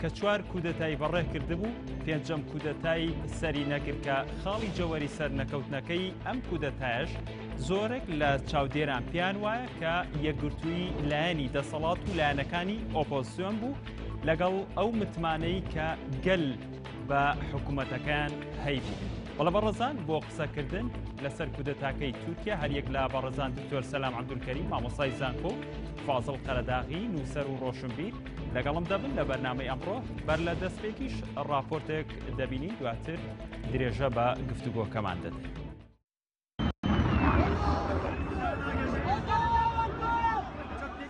کە چوار کودەتای بەڕێ کردبوو پێنجەم کودەتای سەری نەکرد کە خاڵی جەوەری سەر نەکەوتنەکەی ئەم کودەتایش زۆرێک لە چاودێران پێیان وایە کە یەکگرتووی لایەنی دەسەڵات و لایەنەکانی ئۆپۆزیسیۆن بوو لەگەڵ ئەو متمانەی کە گەل بە حکوومەتەکان هەیبوو. بەڵە بەڕزان بۆ قسەکردن لەسەر کودەتاکەی تورکیا هەریەک لە بەڕزان دکتۆر سەسلام عبدولکەری مامۆسای زانکۆ فازڵ قەرەداغی نووسەر و ڕۆشنبیر لەگەڵم دەبن لە بەرنامەی ئەمڕۆ بەر لە دەستپێکیش ڕاپۆرتێک دەبینین دواتر درێژە بە گفتوگۆکەمان دەدەین.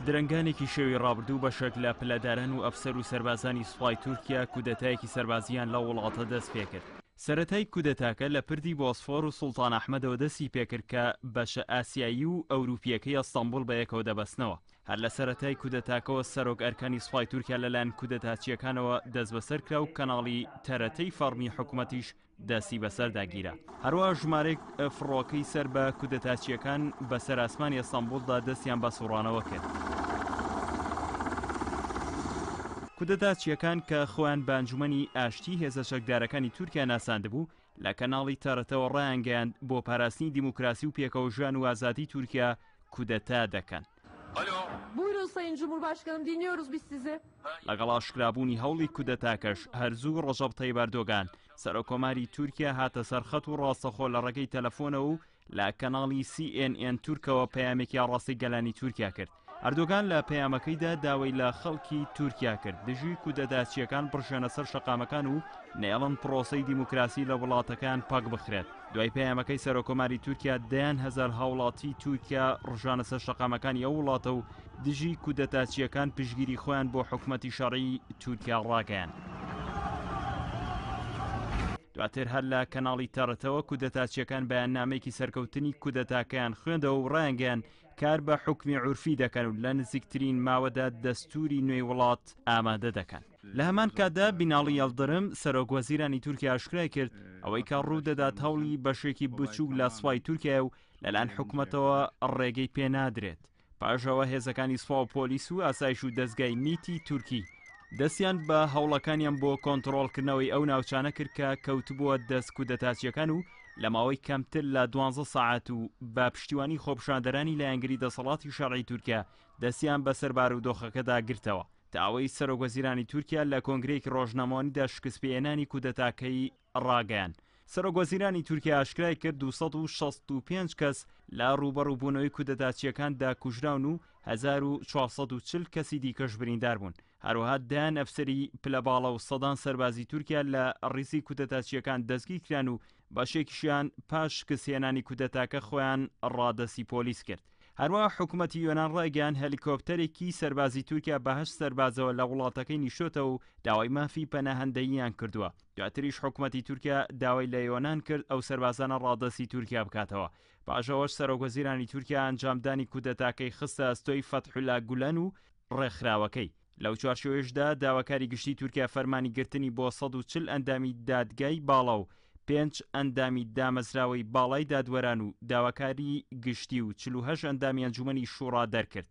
درنگانێکی شێوی ڕابردوو بەشێک لە پلەداران و ئەفسەر و سربازانی سوپای تورکیا کودەتایەکی سربازیان لە وڵاتە دەست پێکرد سەتای کودەتاکە لە پردی بۆسفۆر و سوڵتان ئەحمەدەوە دەستی پێکرد کە بەشە ئاسیایی و ئەوروپیەکەی ئەستەمبول بە یەکەوە دەبەستنەوە هەر لە سەرەتای کودەتاکەوە سەرۆک ئەرکانی سوپای تورکیا لەلایەن کودەتاچییەکانەوە دەستبەسەر کرا و کەناڵی تەرەتەی فەڕمی حکومەتیش دەستی بەسەردا گیرا. هەروەها ژمارێک فڕۆکەی سەر بە کودەتاچییەکان بەسەر ئاسمانی ئەستەنبوڵدا دەستیان بە سوڕانەوە کرد. کودەتاچییەکان کە خۆیان بە ئەنجومەنی ئاشتی هێزە چەکدارەکانی تورکیا ناساندبوو، لە کەناڵی تەرەتەوە ڕایانگەیاند، بۆ پاراستنی دیموکراسی و پێکەوەژیان و ئازادی تورکیا کودەتا دەکەن. لەگەڵ ئاشکرابوونی هەوڵی کودەتاکەش، هەر زوو ڕەجەب تەیب ئەردۆگان، سەرۆککۆماری تورکیا هاتە سەر خەت و ڕاستەخۆ لە ڕێگەی تەلەفۆنەوە و لە کەناڵی سی ئێن ئێن تورکەوە پەیامێکی ئاڕاستەی گەلانی تورکیا کرد ئەردۆگان لە پەیامەکەیدا داوای لە خەڵکی تورکیا کرد دژی کودەتاچیەکان بڕژێنە سەر شەقامەکان و نێڵن پرۆسی دیموکراسی لە وڵاتەکان پاک بخرێت دوای پەیامەکەی سەرۆکۆماری تورکیا دەیان هزار هاوڵاتی تورکیا ڕژانە سەر شەقامەکانی ئەو وڵاتە و دژی کودەتاچیەکان پشگیری خۆیان بۆ حکومەتی شەڕی تورکیا ڕاگەیان. دواتر هەر لە کەناڵی تەڕتەوە کودەتاچیەکان بەیاننامەیەکی سەرکەوتنی کودەتاکەیان خوێندەوە و ڕایانگەیان کار بە حوکمی عورفی دەکەن و لە نزیکترین ماوەدا دەستوری نوێی وڵات ئامادە دەکەن. لە هەمان کاتدا بیناڵی یەڵدرم، سەرۆک وەزیرانی تورکیا ئاشکرای کرد، ئەوەی کە ڕوو دەدات هەوڵی بەشێکی بچووک لە سوپای تورکیایە و لەلایەن حکومەتەوە ڕێگەی پێ نادرێت. پاش ئەوە هێزەکانی سوپاو پۆلیس و ئاسایش و دەزگای میتی تورکی دەستیان بە هەوڵەکانیان بۆ کۆنتڕۆڵکردنەوەی ئەو ناوچانە کرد کە کەوتبووە دەست کودەتاچیەکان و لەماوەی کەمتر لە دوانزە سەعات و بە پشتیوانی خۆپشاندەرانی لایەنگری دەسەڵاتی شەرعی تورکیا دەستیان بەسەر بارودۆخەکەدا گرتەوە تا ئەوەی سەرۆک وەزیرانی تورکیا لە کۆنگرەیەکی ڕۆژنامەوانیدا شکستپێهێنانی کودەتاکەی ڕاگەیاند، سەرۆک وەزیرانی تورکیا ئاشکرای کرد دوو سەد و شەست و پێنج کەس لە ڕووبەڕووبوونەوەی کودەتاچییەکاندا کوژراون و هەزار و چوار سەد و چل کەسی دیکەش بریندار بوون، هەروەها دەیان ئەفسەری پلە باڵا و سەدان سەربازی تورکیا لە ڕیزی کودەتاچییەکان دەستگیر کران و بەشێکیشیان پاش شکستهێنانی کودەتاکە خۆیان ڕادەستی پۆلیس کرد. هەروەها حکومەتی یۆنان ڕایگەیاند هەلیکۆپتەرێکی سەربازی تورکیا بە هەشت سەربازەوە لە وڵاتەکەی نیشتۆتەوە و داوای مافی پەناهەندەییان کردووە. دواتریش حکومەتی تورکیا داوای لە یۆنان کرد ئەو سەربازانە ڕادەستی تورکیا بکاتەوە، پاش ئەوەش سەرۆک وەزیرانی تورکیا ئەنجامدانی کودەتاکەی خستە ئەستۆی فەتحولا گولەن و ڕێکخراوەکەی، لەو چوارچێوەیشدا داواکاری گشتی تورکیا فەرمانی گرتنی بۆ سەد و چل ئەندامی دادگای باڵا و پێنج ئەندامی دامەزراوەی باڵای دادوەران و داواکاری گشتی و چل و هەشت ئەندامی ئەنجومەنی شوڕا دەرکرد.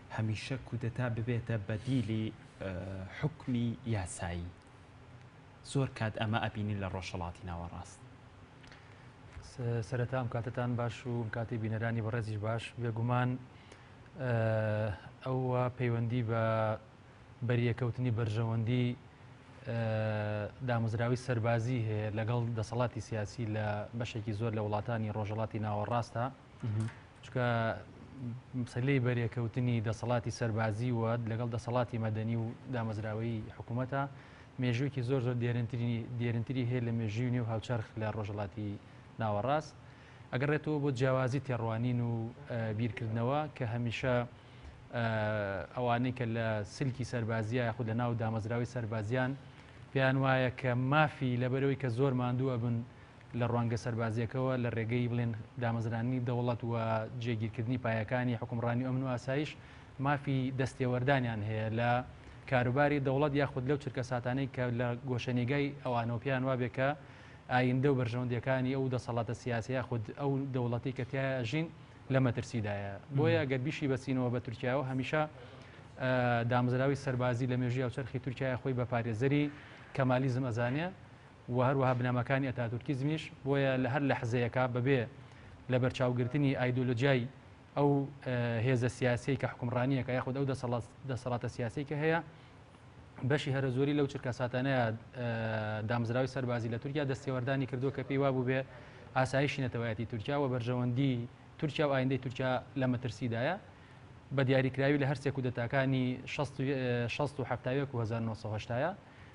هەمیشە کودەتا ببێتە بەدیلی حوکمی یاسایی زۆر کات ئەمە ئەبینین لە ڕۆژهڵاتی ناوەڕاست سەرەتام کاتتان باش و کاتی بینەرانی بەڕێزیش باش بێگومان ئەوە پەیوەندی بە بەریەکەوتنی بەرژەوەندی دامەزراوی سەربازی هەیە لەگەڵ دەسەڵاتی سیاسی لە بەشێکی زۆر لە وڵاتانی ڕۆژەڵاتی ناوەڕاستە چکە سەلەی بەرێکەوتنی دەسەڵاتی سەربازی و لەگەڵ دەسەڵاتی مەدەنی و دامەزراوەی حکوومەتە مێژوویکی زۆر زۆر دێرنتری دێرنتری هەیە لە مێژوی نێو هاوچەرخ لە ڕۆژڵاتی ناوەڕاست ئەگەڕێتەوە بۆ جیاوازی تێڕوانین و بیرکردنەوە کە هەمیشە ئەوانەی کە لە سلکی سەربازیە یاخود لە ناو دامەزراوی سەربازیان پێیان وایە کە مافی لەبەرەوەی کە زۆر ماندووە بن لە ڕوانگە سەربازییەکەوە لە ڕێگەی بڵێن دامەزراندنی دەوڵەت و جێگیرکردنی پایەکانی حوکمڕانی و ئەمن و ئاسایش مافی دەستێوەردانیان هەیە لە کاروباری دەوڵەت یاخود لەو چرکەساتانەی کە لە گۆشەنیگای ئەوانەوە پێیان وابێ کە ئایندە و بەرژەوەندیەکانی ئەو دەسەڵاتە سیاسی یاخود ئەو دەوڵەتی کە تیا ئەژین لە مەترسیدایە بۆیە گەر بیشی بەچینەوە بە تورکیاەوە هەمیشە دامزراوی سەربازی لە مێژی ئەوچەرخی تورکیا خۆی بە پارێزەری کەمالیزم ئەزانێ و هەروەها بنەماکانی ئەتاتورکیزمیش، بۆیە لە هەر لەحزەیەکا بەبێ لەبەرچاوگرتنی ئایدۆلۆجیای ئەو هێزە سیاسیەی کە حوکمڕانیەکا یاخود ئەو دەسەڵاتە سیاسیەی کە هەیە بەشی هەرەزۆری لەو چرکەساتانەیە دامزراوی سەربازی لە تورکیا دەستێوەردانی کردو کە پێی وابوو بێ ئاسایشی نەتەوایەتی تورکیا و بەرژەوەندی تورکیا و ئایندەی تورکیا لە مەترسیدایە بە دیاریکراوی لە هەرسێک و دەتاکانی 16 و 1970ەیە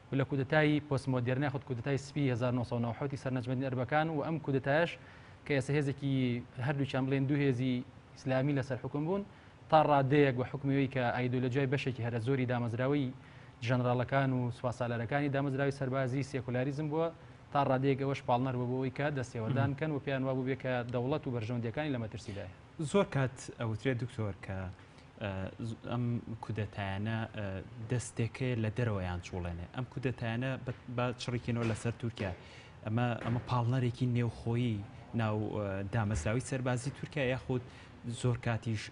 و لە کودەتای پۆست مۆدێرنە یاخود کودەتای سپی هەزار و نۆ سەد و نەوەد و حەوت ی سەر نەجمەدین ئەربەکان و ئەم کودەتایەش کە ئێستا هێزێکی هەردووکیان بڵێن دوو هێزی ئیسلامی لەسەر حوکم بوون تا ڕادەیەک بە حوکمی ئەوەی کە ئایدۆلۆجیای بەشێکی هەرە زۆری دامەزراوەی ژەنراڵەکان و سوپاسالارەکانی دامەزراوەی سەربازی سێکولاریزم بووە تا ڕادەیەک ئەوەش پاڵنەر بووە بۆ ئەوەی کە دەستێوەردان بکەن و پێیان وا بووبێ کە دەوڵەت و بەرژەوەندییەکانی لە مەترسیدایە. زۆر کات ئەوترێت دکتۆر کە ئەم کودەتایانە دەستێکەیە لە دەرەوەیان چوڵێنێ ئەم کودەتایانە با چڕیکەنەوە لەسەر تورکیا ئەمە ئەمە پاڵنەرێکی نێوخۆیی ناو دامەزراوی سەربازی تورکیا یاخود زۆر کاتیش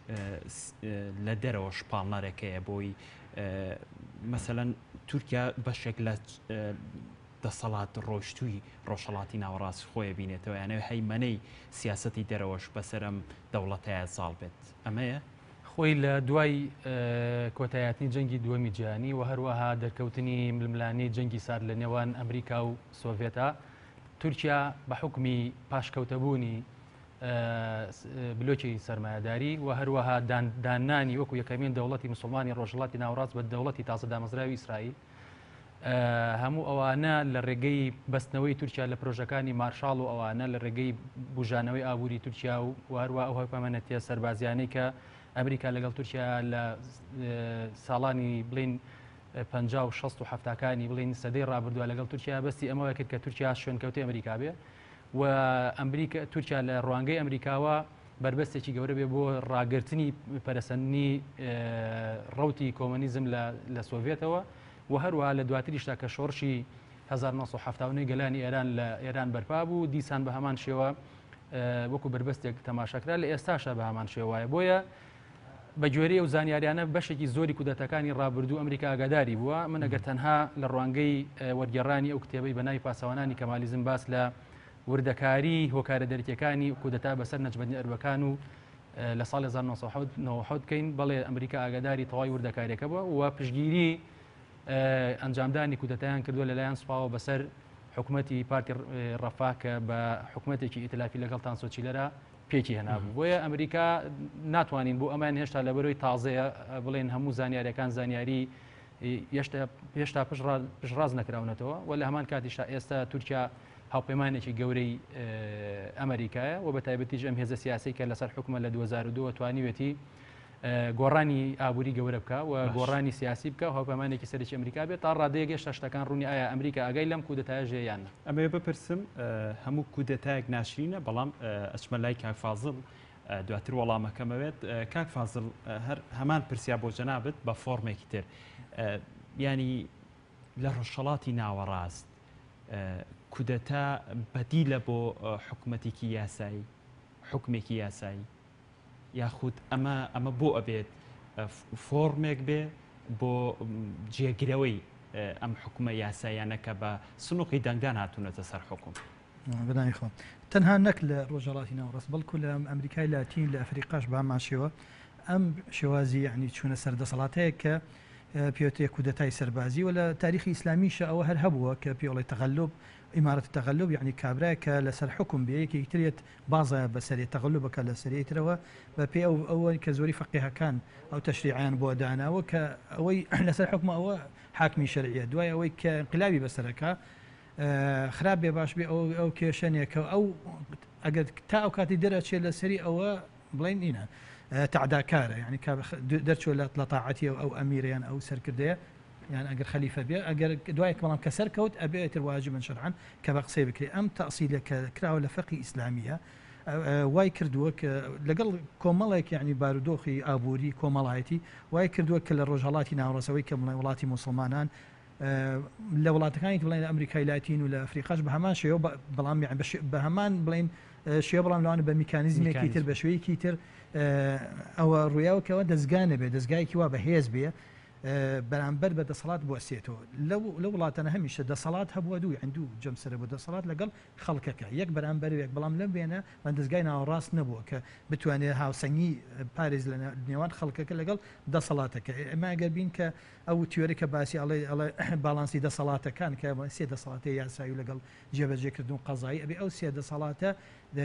لە دەرەوە شپاڵنەرەکەیە بۆی مەسەەن تورکیا بەشێک لە دەسەڵات ڕۆشتووی ڕۆژهڵاتی ناوەڕاست خۆی بینێتەوە یانەوە هەیمەەی سیاستی دەرەوەش بەسەرم دەوڵەتەیە زاڵ بێت. ئەمەیە خۆی لە دوای کۆتایاتنی جەنگی دووەمی جیانی و هەروەها دەرکەوتنی ململانی جەنگی سارد لە نێوان ئەمریکا و سۆڤێتا تورکیا بە حکمی پاشکەوتەبوونی بلۆکی سرمایهداری و هەروەها دانانی وەکو یەکەمین دەوڵەتی مسلمانی ڕۆژڵاتی ناوڕاست بە دەوڵەتی تازە دامەزراوی ئیسرائیل هەموو ئەوانە لە ڕێگەی بەستنەوەی تورکیا لە پرۆژەکانی مارشال و ئەوانە لە ڕێگەی بژانەوەی ئابووری تورکیا و واروا ئەو هەپەمەەتە سەربازیانەی کە ئەمریکا لەگەڵ تورکیا لە ساڵانی بڵین پ و 16 و هەفتاکانی بڵین سەدەی ڕابردووە لەگەڵ تورکیا بەستی ئەمەوە کرد کە تورکیا شوێنکەوتی ئەمریکا بێ و ئەمریکا تورکیا لە ڕوانگەی ئەمریکاوە بەربەستێکی گەورە بێ بۆ ڕاگررتنی پەرەسەندنی ڕوتی کۆمەنیزم لە سۆڤێتەوە و هەروە لە دواتریشتا کە شۆڕشی 1970 گەلانی ئێران لە ئێران بەرپا بوو دیسان بە هەمان شێوە وەکو بربەستێک تەماشاکرا لە ئێستاشە بە هەمان شێوایە بۆیە بە گوێرەی ئەو زانیاریانە بەشێکی زۆری کودەتاکانی ڕابردوو ئەمریکا ئاگاداری بووە من ئەگەر تەنها لە ڕوانگەی وەرگێڕانی ئەو کتێبەی بە ناوی پاسەوانانی کەمالیزم باس لە وردەکاری هۆکارە دەرکیەکانی کودەتا بەسەر نەجمەدین ئەربەکان و لە ساڵ 1990 کەین بەڵێ ئەمریکا ئاگاداری تەواوی وردەکاریەکە بووە و پشگیری ئەنجامدانی کودەتایان کردووە لەلایەن سوپاوە بەسەر حکوومەتتی پارتی ڕفا کە بە حکوومەتێکی ئیتلافی لەگەڵ تانسۆچیلەرە پێکی هێنابوو بۆیە ئەمریکا ناتوانین بۆ ئەمان هێشتا لە بەرەوەی تازەیە بڵێن هەموو زانیارەکان زانیاری هێشتا پشڕاز نەکراونەتەوە و لە هەمان کاتیشا ئێستا تورکیا هاوپەیمانێکی گەورەی ئەمریکایە و بە تایبەتیش ئەم هێزە سیاسی کە لەسەر حکومە لە 2002 توانیوێتی گۆڕانی ئابووری گەورە بکە و گۆڕانی سیاسی بکە هەپەمانێکی سەرکی ئەمریکا بێت تا ڕادەیە گەشتە شتەکان ڕوونی ئایا ئەمریکا ئەگەی لەم کودەتای ژێیان ئەمێ بپرسم هەموو کودەتایەک ناشرینە بەڵام ئەچمە لای کاکفازل دواتر وەڵامەکەمەوێت کاک فازل هەر هەمان پرسیا بۆ جەنابەت بە فۆرمێکی تر ینی لە ڕۆژهڵاتی ناوەڕاست کودەتا بەدیلە بۆ حکوومەتێکی یاسایی حکومێکی یاسایی یاخود ئەمە ئەمە بۆ ئەبێت فۆڕمێک بێ بۆ جێگرەوەی ئەم حکومە یاسایانە کە بە سنوقی دەنگدان هاتوونەتە سەر حکوم. بەداخەوە تەنها نەک لە ڕۆژهەڵاتی ناوەڕاست بەڵکو لە ئەمریکای لاتین لە ئەفریقاش بە هەمان شێوە ئەم شێوازی یعنی چوونە سەر دەسەڵاتەیە کە پێوتێ کودەتای سەربازی و لە تاریخی ئیسلامیشە ئەوە هەر هەبووە کە پێڵی تەغەلوب ئیمارەت تەغەلوب یعنی کابراە کە لەسەر حکم بێ یەکێکترێت بازە بەسەرێ تەغەلوبەکە لە سەرێی ترەوە بە پێ ئەو ئەوەی کە زۆری فەقێهەکان ئەو تەشریعیان بۆ داناوە کە ئەوەی لەسەر حکومە ئەوە حاکمی شەرعیە دوای ئەوەی کە انقلابی بەسەرەکە خراپ بێ باش بێ ئەو ئەو کێشەنێکە ئەو ئەگەر تا ئەو کاتی دەرەچێت لە سەری ئەوە بڵین نینە تعداکارە یعنی دەرچۆ لە لە تاعەتی ئەو ئەمیریان ئەو سەرکردەیە یان ئەگەر خەلیفە بێ ئەگەر دوای بەڵام کە سەر کەوت ئەبێ ئیتر واجبن شەرعەن کە بە قسەی بکرێ ئەم تەسیلە کە کراوە لە فەقی ئیسلامیە وای کردووە کە لەگەڵ کۆمەڵێک یعنی بارودۆخی ئابووری کۆمەڵایەتی وای کردووە کە لە ڕۆژهڵاتی ناوڕەسەوەی کە بڵێ وڵاتی مسلمانان لە وڵاتەکانی بڵێن ئەمریکای لاتین و لە ئەفریقاش بە هەمان شێوە بەڵام بە هەمان بڵین شێ بڵام لەوانە بە میکانیزمێکی تر بە شوەیەکی تر ئەوە ڕویاوکەوە دەستگانە بێ دەستگایکی وا بە هێز بێ بەرامبەر بە دەسەڵات بوەستێتەوە، لە وڵاتانە هەمیشە دەسەڵات هەبووە دوو یان دوو جەمسەرە بۆ دەسەڵات لەگەڵ خەڵکەکە یەک بەرامبەر یەک بەڵام لەم وێنە من دەزگای ناوەڕاست نەبووە کە بتوانێت هاوسەنگی پارێز لە نێوان خەڵکەکە لەگەڵ دەسەڵاتەکە ئێمە ئەگەر بین کە ئەو تیۆری کە باسی ئەڵێ ئەڵێ باڵانسی دەسەڵاتەکان کە سێ دەسەڵاتی یاسایی لەگەڵ جێبەجێکردن و قەزایی ئەبێ ئەو سێ دەسەڵاتە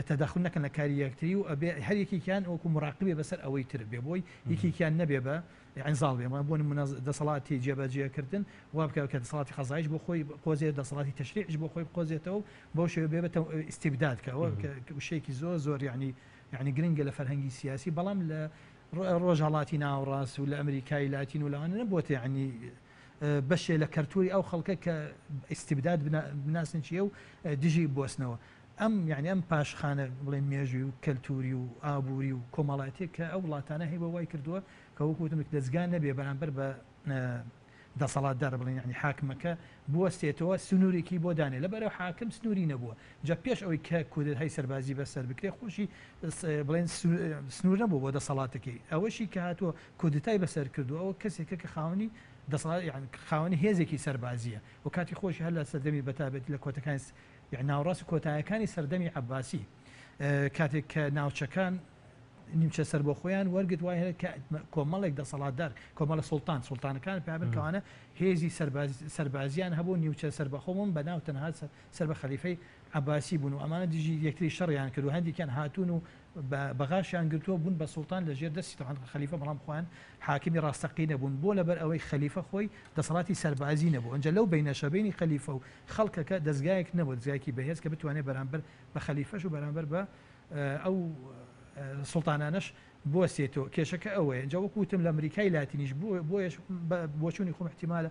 تەداخل نەکەن لە کاری یەکتری و ئەبێ هەر یەکێکیان وەکو مراقبێ بەسەر ئەوەی تر بێ بۆی یەکێکیان نەبێ بە یانی زاڵ بێ بۆ نمونە دەسەڵاتی جێبەجێ کردن وا بکەوێت کە دەسەڵاتی قەزایش بۆ خۆی بقۆزێت دەسەڵاتی تەشریعیش بۆ خۆی بقۆزێتەوە و بەو شێوە بێ بە ئیستیبداد کە ئەوە کە وشەیەکی زۆر زۆر یانی یانی گرنگە لە فەرهەنگی سیاسی بەڵام لە ڕۆژهەڵاتی ناوەڕاست و لە ئەمریکای لاتین و لەوانە نەبووەتە یانی بەشێ لە کەلتوری ئەو خەڵکە کە ئیستیبداد بناسن چیە و دژی بۆسنەوە ئەم یعنی ئەم پاشخانە بڵێ مێژوی و کەلتوری و ئابووری و کۆمەڵاتێک کە ئەو وڵاتانە هەیە بە وای کردووە کە وەکو وتم دەزگا نەبێ بەرامبەر بە دەسەڵاتدار بڵێن یەعنی حاکمەکە بوەستێتەوە سنورێکی بۆ دانێ لەبەرئەو حاکم سنوری نەبوە جا پێش ئەوەی کە کودەتای سەربازی بە سەر بکرێ خۆشی بڵێن سنور نەبوە بۆ دەسەڵاتەکەی ئەوەشی کە هاتوە کودەتای بەسەر کردو ئەوە کەسێکە کە خاونی دەسەڵات یان خاونی هێزێکی سەربازیە و کاتی خۆشی هەر لە سەردەمی بەتابێت لە کۆتەکانی ناوڕاست کۆتایەکانی سەردەمی عباسی کاتێک کە ناوچەکان نیمچە سەربەخۆیان وەرگرت وای هەیە کە کۆمەڵێک دەسەڵاتدار کۆمەڵە سوڵتان سوڵتانەکان پابن کەوانە هێزی سەربازیان هەبوو نیوچە سەربەخۆمم بە ناو تەنها سەر بە خەلیفەی عباسی بوون و ئەمانە دژی یەکتری شەڕیان کرد و هەندێکیان هاتوون و بەغاشیان گرتووە بوون بە سوڵتان لە ژێر دەستی تەوان خەلیفە بەڵام خوان حاکمی ڕاستەقی نەبوون بۆ لەبەر ئەوەی خەلیفە خۆی دەسەڵاتی سەربازی نەبوو ئەنجە لەو بینەشەبینی خەلیفە و خەڵکەکە دەستگایەک نەبوو دەستگایکی بەهێز کە بتوانێت بەرامبەر بە خەلیفەش و بەرامبەر بە ئەو سوڵتانانەش بوەستێتەوە کێشەکە ئەوەیە ئینجا وەکو وتم لە ئەمریکای لاتینیش بووە بۆیەش بۆچوونی خۆم احتیمالە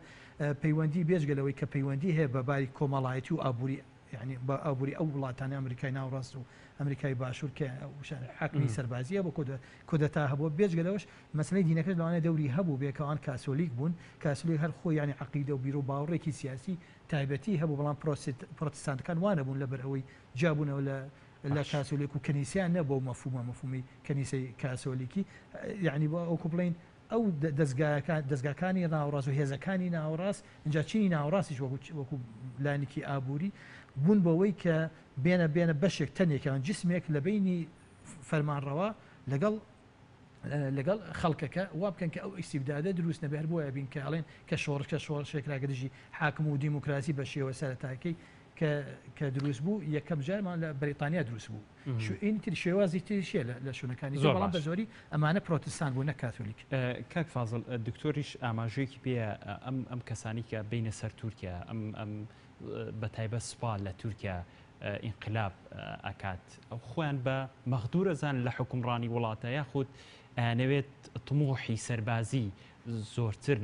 پەیوەندی بێجگە لەوەی کە پەیوەندی هەیە بە باری کۆمەڵایەتی و ئابووری یعنی بە ئابووری ئەو وڵاتانی ئەمریکای ناوڕاست و ئەمریکای باشوور کە وشان حاکمی سەربازیە بۆ کۆدە کۆدەتا هەبوو بێجگە لەوەش مەسلەی دینەکەش لەوانە دەوری هەبوو بێکەوان کاسۆلیک بوون کاسلی هەر خۆ ینی عقیدە و بیرو باوڕێکی سیاسی تایبەتی هەبوو بەڵام پرۆسیت پرۆتستانتەکان وانە بوون لەبەر ئەوەی جابوونەوە لە لە باش. کاسۆلیک و کەنیسەیان نیە بەو مەفهومە مەفهومی کەنیسەی کاسۆلیکی یەعنی بۆ وەکو بڵێین ئەو دەزگایەکان دەزگاکانی ناوەڕاست و هێزەکانی ناوەڕاست ئینجا چینی ناوەڕاستیش وەکو وەکو لایەنێکی ئابووری بوون بەوەی کە بێنە بێنە بەشێک تەنێک یان جسمێک لە بەینی فەرمانڕەوا لەگەڵ لەگەڵ خەڵکەکە وا بکەن کە ئەو ئیستیبدادە دروست نەبێ هەر بۆیە بین کە ئەڵێن کە شۆڕش کە شۆڕشێک کراگە دژی حاکم و دیموکراسی بە شێوە سەرەتاکەی کە کە دروست بوو یەکەم جارمان لە بەریتانیا دروست بوو شوئینی تری شێوازی تریشە لە شوونەکانی زۆر بەڵام بە زۆری ئەمانە پرۆتستان بوو نە کاتۆلیک کاک فازل دکتۆریش ئاماژوێکی پێ ئەم ئەم کەسانی کە بینە سەر تورکیا ئەم ئەم بە تایبەت سوپا لە تورکیا ئینقلاب ئەکات ئەو خۆیان بە مەغدورەزان لە حکومڕانی وڵاتە یاخود ئەنەوێت تمۆحی سەربازی زۆرتر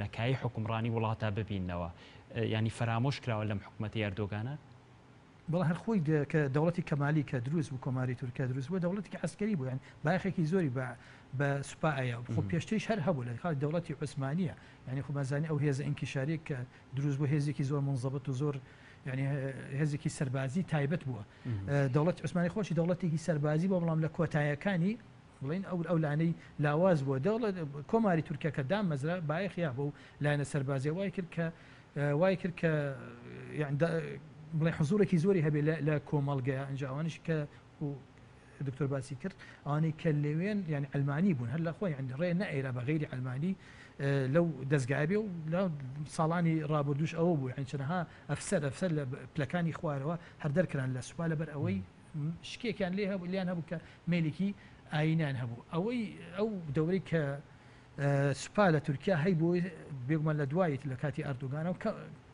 لە کایەی حوکمڕانی وڵاتا ببیننەوە یانی فەرامۆش کراوە لەم حکومەتی ئەردۆگانە؟ بەڵێ هەر خۆی کە دەوڵەتی کەمالی کە دروست بوو کۆماری تورک کە دروست بووە دەوڵەتێکی عەسکەری بوو یانی بایەخێکی زۆری بە بە سوپا ئەیا خۆ پێشتریش هەر هەبوو لە کاتی دەوڵەتی عوسمانییە یانی خۆ بەزانین ئەو هێزە ئینکیشارییە کە دروست بوو هێزێکی زۆر منزەبت و زۆر یعنی هێزێکی سەربازی تایبەت بووە دەوڵەتی عوسمانی خۆشی دەوڵەتێکی سەربازی بۆ بەڵام لە کۆتایەکانی بڵێن ئەو ئەو لانەی لاواز بووە دەوڵە کۆماری تورکیا کە دامەزرا بایەخ یا بەو لایەنە سەربازیە وای کرد کە وای کرد کە بڵێ حزورێکی زۆری هەبێ لە کۆمەڵگەیە ئەنجاوانش کە دکتۆر باسی کرد ئەوانەی کە لەوێن یعنی ئەلمانی بوون هەر لە خۆی ئەنی ڕێ نەئێرا بە غیری ئەلمانی لەو دەستگای بێ و لە ساڵانی ڕابردوش ئەوە بوو هەنچەنەها ئەفسەر ئەفسەر لە پلەکانی خوارەوە هەر دەرکران لە سوپا لەبەر ئەوەی شکێکیان لێ هەبوو لێیان هەبوو کە مەیلێکی ئاینیان هەبوو ئەوەی ئەو دەورەی کە سوپا لە تورکیا هەی بۆی بێگومان لە دوایت لە کاتی ئەردوگانەوە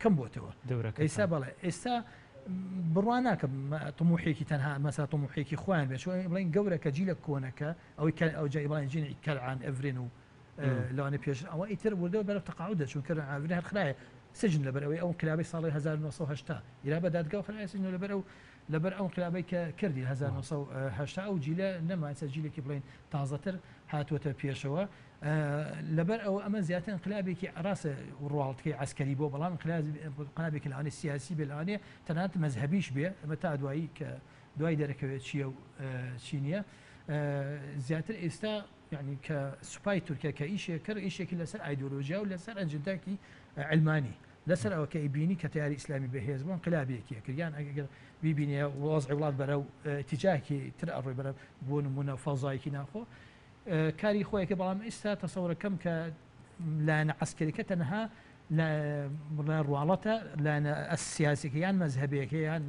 کەم بۆتەوە دەورەکە ئێستا بەڵێ ئێستا بڕوان ناکە تموحێکی تەنها مەسا تموحێکی خۆیان بێت بڵین گەورە کە جی لە کۆنەکە ئەوەی کە ئەو جایبڵین جینی کەلعان ئەڤرێن و لەوانە پێش ئەوە ئیتر وردەوە بەرە تەقاعود دەچون کردن ئاڤری هەرخراە سجن لەبەر ئەوەی ئەو کلابی ساڵی 1970 ئیرا بە دادگا خراە سجن لەبەر ئەو لەبەر ئەو ئنقلابەی کە کردی هەزار و نۆ سەد و هەشتا ئەو جیلە نەمانسە جیلێکی بڵێین تازەتر هاتووەتە پێشەوە لەبەر ئەوە ئەمە زیاتر ئنقلابێکی ڕاستە ڕواڵتکەی عسکەری بۆ بەڵام قلابێکی لەوانێ سیاسی بێ لەوانێ تەنات مەذهبیش بێ ئەمە تا دوایی کە دوای دەرەکەوێت چییە و چی نییە زیاتر ئێستا یعنی کە سوپای تورکە کە ئیشێکرد ئیشێکی لەسەر ئایدۆلۆژیا و لەسەر ئەجدداکی ئەلمانی لەسەر ئەوە کە ئیبینی کە تەیاری ئیسلامی بە هێز بۆ ئینقلابی یەکیە کرد یان ئەگەر بیبینێ وەزعی وڵات بەرەو ئیتیجاهێکی تر ئەڕۆی بەرە بۆ نمونە فەزایەکی ناخۆ کاری خۆی کە بەڵام ئیستا تەسەورەکەم کە لایەنە عەسکەریکە تەنها لە بڵێ ڕواڵەتە لایەنە سیاسیەکە یان مەزهبەیەکە یان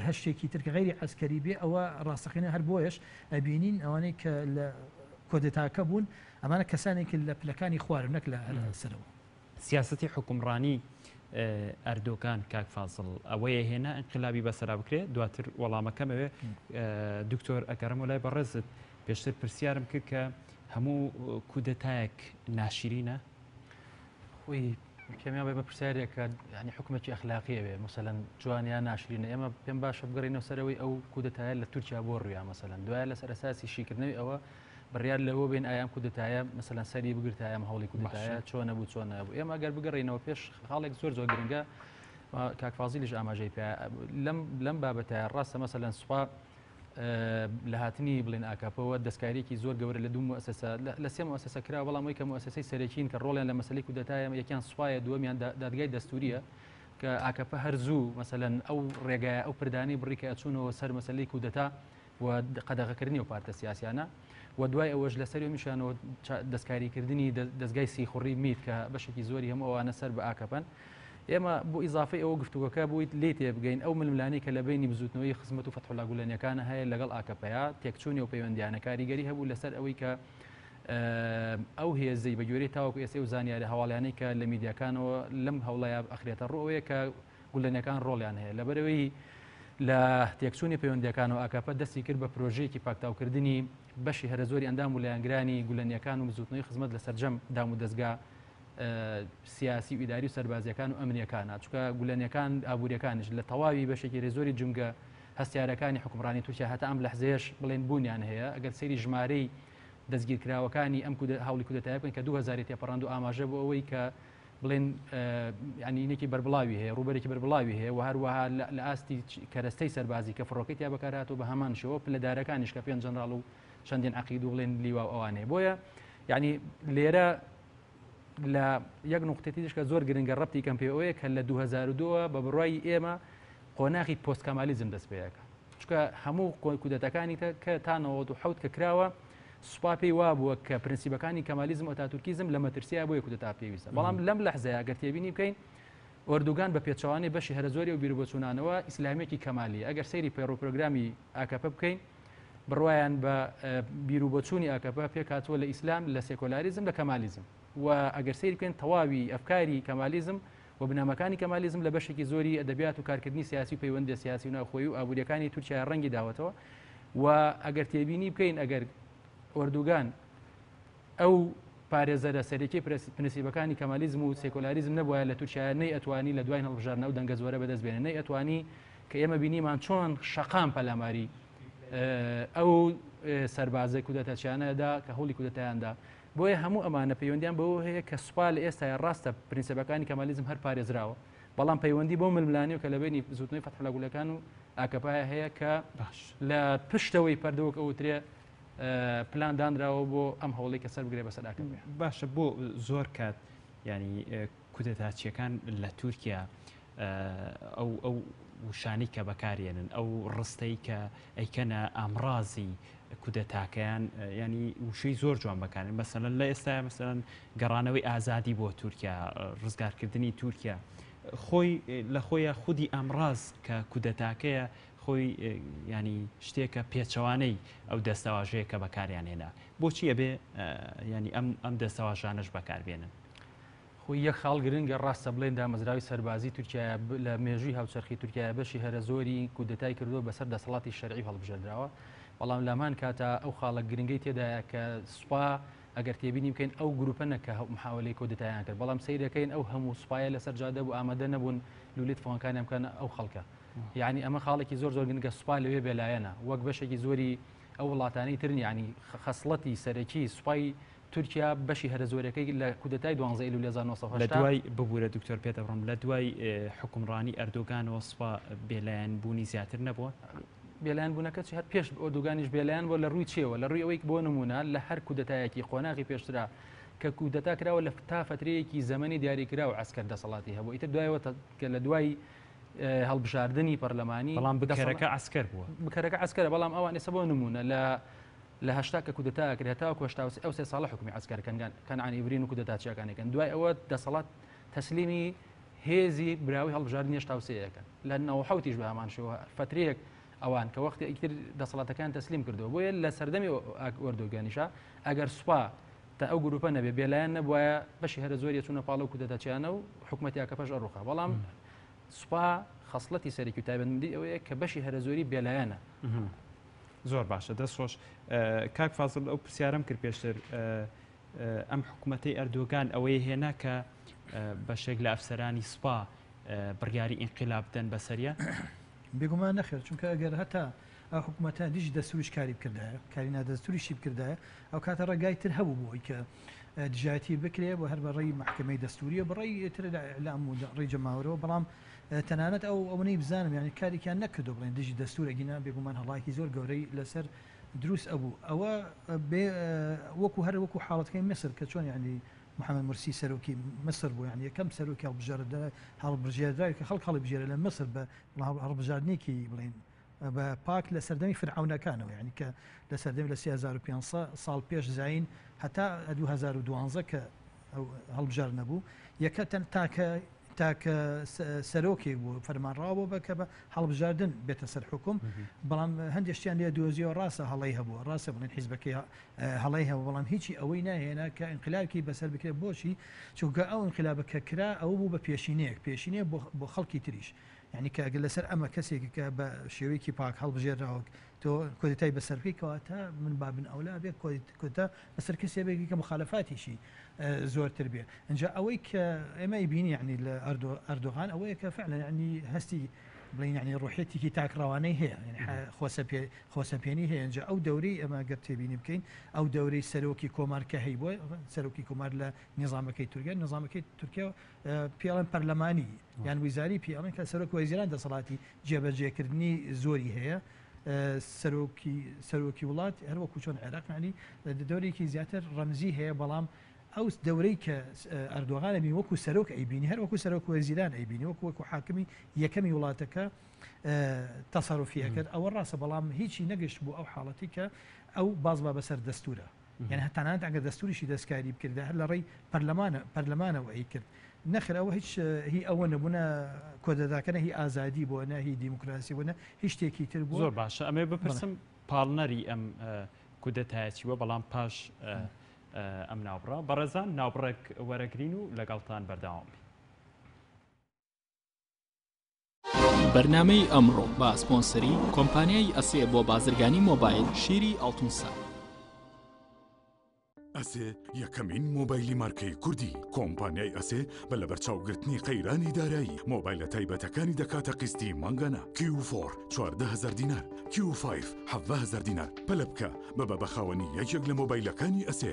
هەشتێکی ترکە غیری عسکەری بێ ئەوە ڕاستەقینە هەر بۆیش ئەبینین ئەوانەی کە لە کۆدێتاکە بوون ئەمانە کەسانێکی لە پلەکانی خوارن نەک لە سەرەوە سیاسەتی حوکمڕانی ئەردۆگان کاک فازڵ ئەوەیە هێنا ئینقلابی بەسەرا بکرێت دواتر وەڵامەکەم ئەوێ دکتۆر ئەگەڕم و لای بەڕێزت پێشتر پرسیارم کرد کە هەموو کودەتایەک ناشیرینە خۆی کەمیان بە پرسیارێکە ینی حکومەتی ئەخلاقیە بێ مەسەەن جوانیان ناشرین ئێمە پێم باشە بگەڕینەوە سەرەوەی ئەو کودەتایە لە تورکیا بۆ ڕویا مەسەەن دوایە لەسەر ئەساسی شیکردنەوەی ئەوە بڕیار لەوە بێن ئایام کودتایە مەسەلەن سەری بگرتایە هەوڵی کودتایە چۆنە بوو چۆن نەبوو ئێمە گەر بگەڕینەوە پێش خاڵێک زۆر زۆر گرنگە کاکفازیلیش ئاماژەی پێ لەم لەم بابەتە ڕاستە مەسەلەن سوپا لە هاتنی بڵێن ئاکاپەوە دەستکارێکی زۆر گەورە لە دوو مؤسسە لە سێ مؤسسە کرا بەڵام یکە مؤسسەی سەرەکین کە ڕۆڵیان لە مەسلی کودتایە یەکیان سوپایە دووەمیان دادگای دەستوریە کە ئاکەپە هەرزوو مەسەن ئەو ڕێگای ئەو پردانی بڕی کە ئەچوونەوە سەر مەسلی کودتا و قەدەغەکردنی و پارتە سیاسیانە و دوای ئەوەش لەسەر میشانەوە دەستکاریکردنی دەستگای سیخوڕی میت کە بەشێکی زۆری هەم ئەوانە سەر بە ئاکەپەن ئێمە بۆ ئیزافی ئەوە گفتوگەکە بوویت لی تێبگەین ئەو ململانی کە لە بینی بزوتنەوەی خزمەت و فەتحلا گولەنیەکانە هەیە لەگەڵ ئاکەپەیە تێکچوونی و پەیوەندیانە کاریگەری هەبوو لەسەر ئەوەی کە ئەو هێزەی بە گوێری تاوەکو ئێسێ و زانیاری هەواڵیانەی کە لە میدیاکانەوە لەم هەوڵەیە ئەخرێتە ڕۆەیە کە گولەنەکان ڕۆڵیان هەیە. لەبەرئەوەی لە تێکچوونی پەیوەندییەکانەوە ئاکەپە دەستی کرد بە پرۆژەیەکی پاکتاوکردنی بەشی هەرەزۆری ئەندام و لایەنگرانی گولەنییەکان و بزووتنەوەی خزمەت لە سەرجەم دامودەزگا سیاسی و ئیداری و سەربازیەکان و ئەمنیەکانە چکە گولەنیەکان ئابووریەکانش لە تەواوی بەشێکی رێزۆری جمگە هەستیارەکانی حکومڕانی تورکیا هەتا ئەم لەحزەیەش بڵێن بوونیان هەیە ئەگەر سەیری ژمارەی دەستگیرکراوەکانی ئەم هەوڵی کودەتای بکەن کە 2000 تێپەڕاند و ئاماژە بۆ ئەوەی کە بڵێن ینینێکی بەربڵاوی هەیە ڕوبەرێکی بەربڵاوی هەیە و هەروەها لە ئاستی کەرەستەی سەربازی کە فڕۆکەی تیا بەکارهاتۆ بە هەمان شەوە پلەدارەکانیش کە پێنج جەنراڵ و چەندین عقید و بڵێن لیوا ئەوانەیە بۆیە یعنی لێرە لە یەک نقطێتی دیشکە زۆر گرنگە ڕەتی کەم پێوەیە کە لە 2002 بە بڕای ئێمە قۆناخی پۆستکەمالیزم دەست پێەکە چکە هەموو کودەتەکانی کە تا 1970 کە کراوە سوپا پێی وابووە کە پرنسیبەکانی کەمالیزم و ئەتاتورکیزم لە مەترسیایە بۆیە کودەتا پێویستە بەڵام لەم لەحزەیە گەر تێبینی بکەین ئۆردوگان بە پێچەوانەی بەشی هەرەزۆری و بیربۆچوونانەوە ئیسلامیەکی کەمالی ئەگەر سەیری پەیڕ و پرۆگرامی ئاکەپە بکەین بڕوایان بە بیر و بۆچوونی ئاکەپە پێکاتوە لە ئیسلام لە سێکۆلاریزم لە کەمالیزم و ئەگەر سەیر بکەین تەواوی ئەفکاری کەمالیزم و بنەماکانی کەمالیزم لە بەشێکی زۆری ئەدەبیات و کارکردنی سیاسی و پەیوەندیە سیاسی و ناوخۆیی و ئابووریەکانی تورکیای ڕەنگی داوەتەوە و ئەگەر تێبینی بکەین ئەگەر ئۆردوگان ئەو پارێزەرە سەرەکی پرنسیبەکانی کەمالیزم و سێکۆلاریزم نەبووە لە تورکیا نەی ئەتوانی لە دوای هەڵبژاردنە و دەنگە زۆرە بەدەست بێنێ نەی ئەتوانی کە ئێمە بینیمان چۆن شەقام پەلاماری ئەو سەربازە کودەتەچیانەدا کە هەوڵی کودەتایاندا بۆیە هەموو ئەمانە پەیوەندیان بەوە هەیە کە سوپا لە ئێستایا ڕاستە پرینسێپەکانی کەمالیزم هەر پارێزراوە بەڵام پەیوەندی بەو ململانێو کە لەبەینی بزوتنەوەی فەتحولا گولەکان و ئاکەپەیا هەیە کە باش. لە پشتەوەی پەردە وەک ئەوترێ پلان دانراوە بۆ ئەم هەوڵەی کە سەربگرێ بەسەر ئاکەپە. باشە بۆ زۆر کات یانی کودەتاچیەکان لە تورکیا ئەو ئەو وشانەی کە بەکارێنن ئەو ڕستەی کە ئەیکەنە ئامڕازی کودەتاکەیان ینی وشەی زۆر جوان بەکارن مەسەن لە ئێستا مەسەن گەڕانەوەی ئازادی بۆ تورکیا ڕزگارکردنی تورکیا خۆی لە خۆیە خودی ئامڕاز کە کودەتاکەیە خۆی ینی شتێکە پێچەوانەی ئەو دەستەواژەیە کە بەکاریان هێنا بۆچی ئەبێ ینی ئەم ئەم دەستەواژانش بەکاربێنن خۆی یەک خاڵ گرنگە، ڕاستە بڵێین دامەزراوەی سەربازی تورکیایا لە مێژووی هاوچەرخی تورکیایا بەشی هەرە زۆری کودەتای کردووە بەسەر دەسەڵاتی شەرعی و هەڵبژێردراوە، بەڵام لەهەمان کاتا ئەو خاڵە گرنگەی تێدایە کە سوپا ئەگەر تێبینی بکەین ئەو گروپە نە کە محاولەی کۆدەتایان کرد بەڵام سەیرەکەین ئەو هەموو سوپایە لەسەر جادە بوو ئامادە نەبوون لولەی تفەنگەکانیان بکەن ئەو خەڵکە یعنی ئەمە خاڵێکی زۆر زۆر گرنگە سوپا لەوێ بێلایەنە وەک بەشێکی زۆری ئەو وڵاتانی ترنی ینی خەسڵەتی سەرەکی سوپای تورکیا بەشی هەرە زۆرەکەی لە کودەتای دوانزە ئەیلولی هەزار و نۆ سەد و هەشتا. لەدوای، ببورە دکتۆر پێدەبڕم، لەدوای حوکمڕانی ئەردۆگانەوە سوپا بێلایەن بوونی زیاتر نەبووە؟ بێلایەن بوونەکە چی هەر پێش ئۆردوگانیش بێلایەن بووە لە ڕووی چیەوە؟ لە ڕووی ئەوەی بۆ نموونە لە هەر کودەتایەکی قۆناغی پێشترا کە کودەتا کراوە لە تا فەترەیەکی زەمەنی دیاریکراو عەسکەر دەسەڵاتی هەبوو ئیتر دوایەوە کە لە دوای هەڵبژاردنی پەرلەمانی بەڵام بکەرەکە عەسکەر بووە بکەرەکە عەسکەرە بەڵام ئەوان ئێستا بۆ نموونە لە لە هەشتا کە کودەتا ئەکرێ هەتاوەکو هەشتا و سێ ئەو سێ ساڵە حوکمی عەسکەر کەنگان کەنعانی برین و کودەتاچیەکان ئەکەن دوای ئەوە دەسەڵات تەسلیمی هێزی براوەی هەڵبژاردنی هەشتا و سێ ئەکەن لە نەوە و حەوتیش بە هەمان شێوە فەترەیەک ئەوان کە وەختی ئیتر دەسەڵاتەکان تەسلیم کردەوە بۆیە لە سەردەمی ئۆردۆگانیشا ئەگەر سوپا تا ئەو گروپە نەبێ بێلایەن نەبوایە بەشی هەرە زۆر یەچوونە پاڵە و کودەتاچیانە و حکومەتی ئاکەپەش ئەڕوخا بەڵام سوپا خەصلەتی سەرەکی و تایبەتمەندی ئەوەیە کە بەشی هەرە زۆری بێلایەنە زۆر باشە دەست خۆش کاک فازل ئەو پرسیارم کرد پێشتر ئەم حکوومەتەی ئەردۆگان ئەوەی هێنا کە بەشێک لە ئەفسەرانی سوپا بڕیاری ئینقلاب بدەن بەسەریە بێگومان نەخێر چونکە ئەگەر هەتا ئەو حکوومەتە دژی دەستوریش کاری بکردایە کاری نادەستوریشی بکردایە ئەو کاتە ڕێگای تر هەبوو بۆی کە دژایەتی بکرێ بۆ هەر بەڕێی محکمەی دەستوریە بڕی تر لە ئەم ڕێ جەماورەوە بەڵام تەنانەت ئەو ئەونەی بزانم یانی کاریکیان نەکردوە بڵێن دژی دەستور ئەگینا بێگومان هەڵایکی زۆر گەورەی لەسەر دروست ئەبوو ئەوە بێ وەکو هەر وەکو حاڵەتکەی میسر کە چۆن یانی محمد مرسی سەرۆکی مصر بوو یان یەکەم سەرۆکی هەڵبژێردرا هەڵبژێردراوی کە خەڵک هەڵبژێرە لە مصر بە هەڵبژاردنێکی بڵێن بە پاک لە سەردەمی فرعەونەکانەوە یانی کە لە سەردەمی لە سێ هەزار و پێنج سە ساڵ پێش زایین هەتا ە دوو هەزار و دوانزە کە ئەو هەڵبژاردنە بوو یەکە تەن تاکە تاکە سەرۆکێک بوو فەرمانڕاو بۆ بە کە بە هەڵبژاردن بێتە سەر حکوم بەڵام هەندێک شتیان لێ دۆزیەوە ڕاستە هەڵەی هەبوو ڕاستە بڵێن حیزبەکەی ە، هەڵەی هەبوو بەڵام هیچی ئەوەی ناهێنا کە ئینقلابکی بەسەر بکرێت بۆچی چونکە ئەو ئینقلابە کە کرا ئەوە بوو بە پێشینەیەک پێشینەیە بۆ بۆ خەڵکی تریش یانی کە گەر لەسەر ئەمە کەسێک کە بە شێوەیەکی پاک هەڵبژێرراوە تۆ کۆدتای بەسەر بکەی کەواتە من بابن ئەولا بێ کۆتا بەسەر کەسێ بێکی کە مخالفاتیشی زۆرتر بێ ئەجا ئەوەی کە ئێمەی بینی یعنی لە ئەردۆ ئەردۆغان ئەوەیە کە فعلا ینی هەستی بڵین ینی ڕۆحێتێکی تاکڕەوانەی هەیە خۆسە پێ خۆسە پێێنی هەیەجا ئەو دەورەی ئەمە گەر تێبینی بکەین ئەو دەورەی سەرۆکی کۆمار کە هەی بۆ سەرۆکی کۆمار لە نظامەکەی تورگە نظامەکەی تورکیا پیاڵن پەرلەمانی یان ویزاری پیاڵن کە سەرۆک وەزیران دەسەڵاتی جێبەجێکردنی زۆری هەیە سەرۆکی سەرۆکی وڵات هەروەکو چۆن عێراقنانی دەورێکی زیاتر ڕەمزی هەیە بەڵام ئەو دەورەی کە ئەردۆغانە بین وەکو سەرۆک ئەیبینی هەر وەکو سەرۆک وەزیران ئەیبینی وەکو وەکو حاکمی یەکەمی وڵاتەکە تەسەرفیەکرد ئەوە ڕاستە بەڵام هیچی نەگەشت بوو ئەو حاڵەتی کە ئەو باز بە بەسەر دەستورە یان هە تەنانەت ئەگەر دەستووریشی دەستکاری بکردایە هەر لە ڕێی پەرلەمانە پەرلەمانەوە ئەیکرد نەخێر ئەوە هیچ هی ئەوە نەبوو نە کۆدەتاکە نە هی ئازادی بووە نە هی دیموکراسی بوو نە هیچ شتێکی تر بوو زۆر باشە ئەمێ بپرسم پاڵنەری ئەم کودەتایەتی وە بەڵام پاش ئەم ناوبڕە بەڕێزان ناوبڕێک وەرەگرین و لەگەڵتان بەرداوام بین. بەرنامەی ئەمڕۆ بە سپۆنسەری کۆمپانیای ئەسێ بۆ بازرگانی مۆبایل شیری ئەڵتون ساعە ئەسێ یەکەمین مۆبایلی مارکەی کوردی کۆمپانیای ئەسێ بە لە بەرچاوگرتنی قەیرانی دارایی مۆبایلە تایبەتەکانی دەکاتە قستی مانگانە کیوفۆر 14هزار دینار کیوفایف 7هزار دینار پەلبکە بە بە بەخاوەنی یەکێک لە مۆبایلەکانی ئەسێ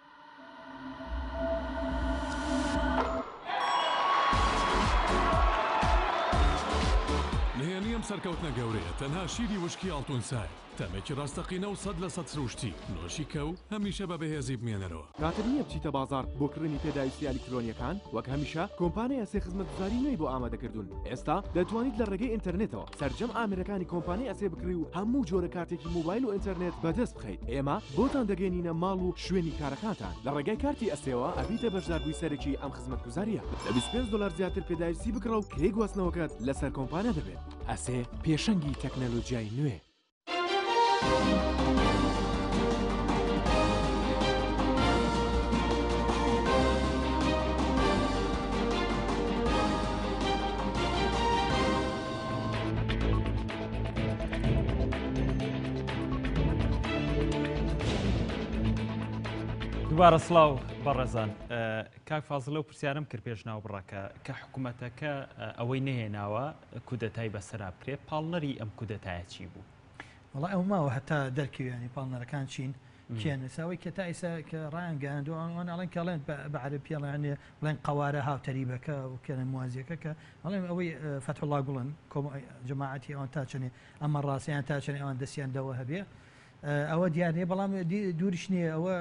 نهێنی ئەم سەرکەوتنە گەورەیە تەنها شیری وشکی ئاڵتونسایە، تامێکی ڕاستەقینە و سەد لە سەد سروشتی، نۆشی کە و هەمیشە بە بەهێزی بمێنەرەوە. کاتت نییە بچیتە بازاڕ بۆ کڕینی پێداویستییە ئەلیکترۆنییەکان؟ وەک هەمیشە کۆمپانیا ئەسێ خزمەتگوزاری نوێی بۆ ئامادەکردوون، ئێستا دەتوانیت لە ڕێگەی ئینتەرنێتەوە سەرجەم ئامێرەکانی کۆمپانیای ئەسێ بکڕی و هەموو جۆرە کارتێکی مۆبایل و ئینتەرنێت بەدەست بکەیت ئێمە بۆتان دەگەینینە ماڵ و شوێنی کارەکانتان لە ڕێگای کارتی ئەستێوە ئەبیتە بەشداربووی سەرەکی ئەم خزمەتگوزاریە لە 25 دلار زیاتر پێداویستی بکڕە و کرێی گواستنەوەکەت لەسەر کۆمپانیا دەبێت ئەسێ پێشەنگی تەکنەلۆجیای نوێ. دوبارە سلااو بەڕێزان کاک فازلە و پرسیارم کرد پێش ناو بڕەکە کە حکوومەتەکە ئەوەی نهێناوە کودەتای بەسرا بکرێت پاڵنەری ئەم کودەتایە چی بوو؟ وڵا ئەو ماوە هەتا دەرکەویانی پاڵنەرەکان چین کێن ساوەی کە تا ئیسا کە ڕایان گەیاندوە ئەوان ئەوان ئەڵێن کە ئەڵێن بە بە عەرەب پێڵێن یانێ بڵێن قەوارە هاوتەریبەکە و کێنە موازیەکە کە ئەڵێن ئەوەی فەتحوڵا گوڵن کۆم جەماعەتی ئەوان تا چەنێ ئەمە ڕاستە یان تا چەنێ ئەوان دەسیان دەوە هەبێ ئەوە دیار نیە بەڵام دووریش نیە ئەوە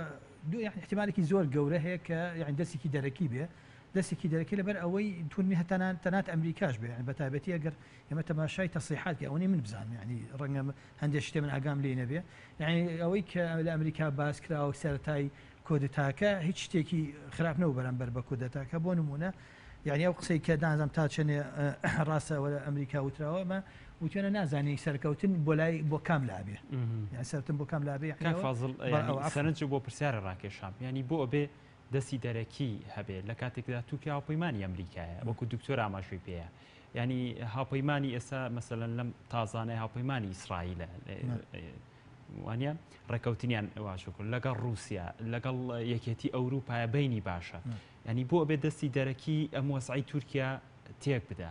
دوو یان احتیمالێکی زۆر گەورە هەیە کە یان دەستێکی دەرەکی بێ دەستێکی دەرەکی لەبەر ئەوەی تونی هەتەنان تەنات ئەمریکاش بێ یان بە تایبەتی ئەگەر ئێمە تەماشای تەسریحات کە ئەوەنی من بزانم یانی ڕەنگە هەندێک شتێ من ئاگام لێی نەبێ یانی ئەوەی کە لە ئەمریکا باس کراوە سەرەتای کۆدتاکە هیچ شتێکی خراپ نەوە بەرامبەر بە کودەتاکە بۆ نمونە یعنی ئەو قسەی کە دانزم تا چێنێ ڕاستە وەرە ئەمریکا وتراوە مە وتێنە نازانی سەرکەوتن بۆ لای بۆ کام لابێ یان سەرتن بۆ کام لابێ فازل سەرنج بۆ پرسیارە ڕاکێشام ینی بۆ ئەبێ دەستی دەرەکی هەبێ لە کاتێکدا توکیا و پەیمانانی ئەمریکایە وەکو دکتۆر ئاماژوی پێەیە یانی هاوپەیمانی ئێستا مەسەلەن لەم تازانەی هاوپەیمانی ئیسرائیلە وانە ڕێکەوتنیان واشکرد لەگەڵ رووسیا لەگەڵ یەکێتی ئەوروپایە بینی باشە ینی بۆ بێ دەستی دەرەکی ئەم وەسعی تورکیا تێک بدا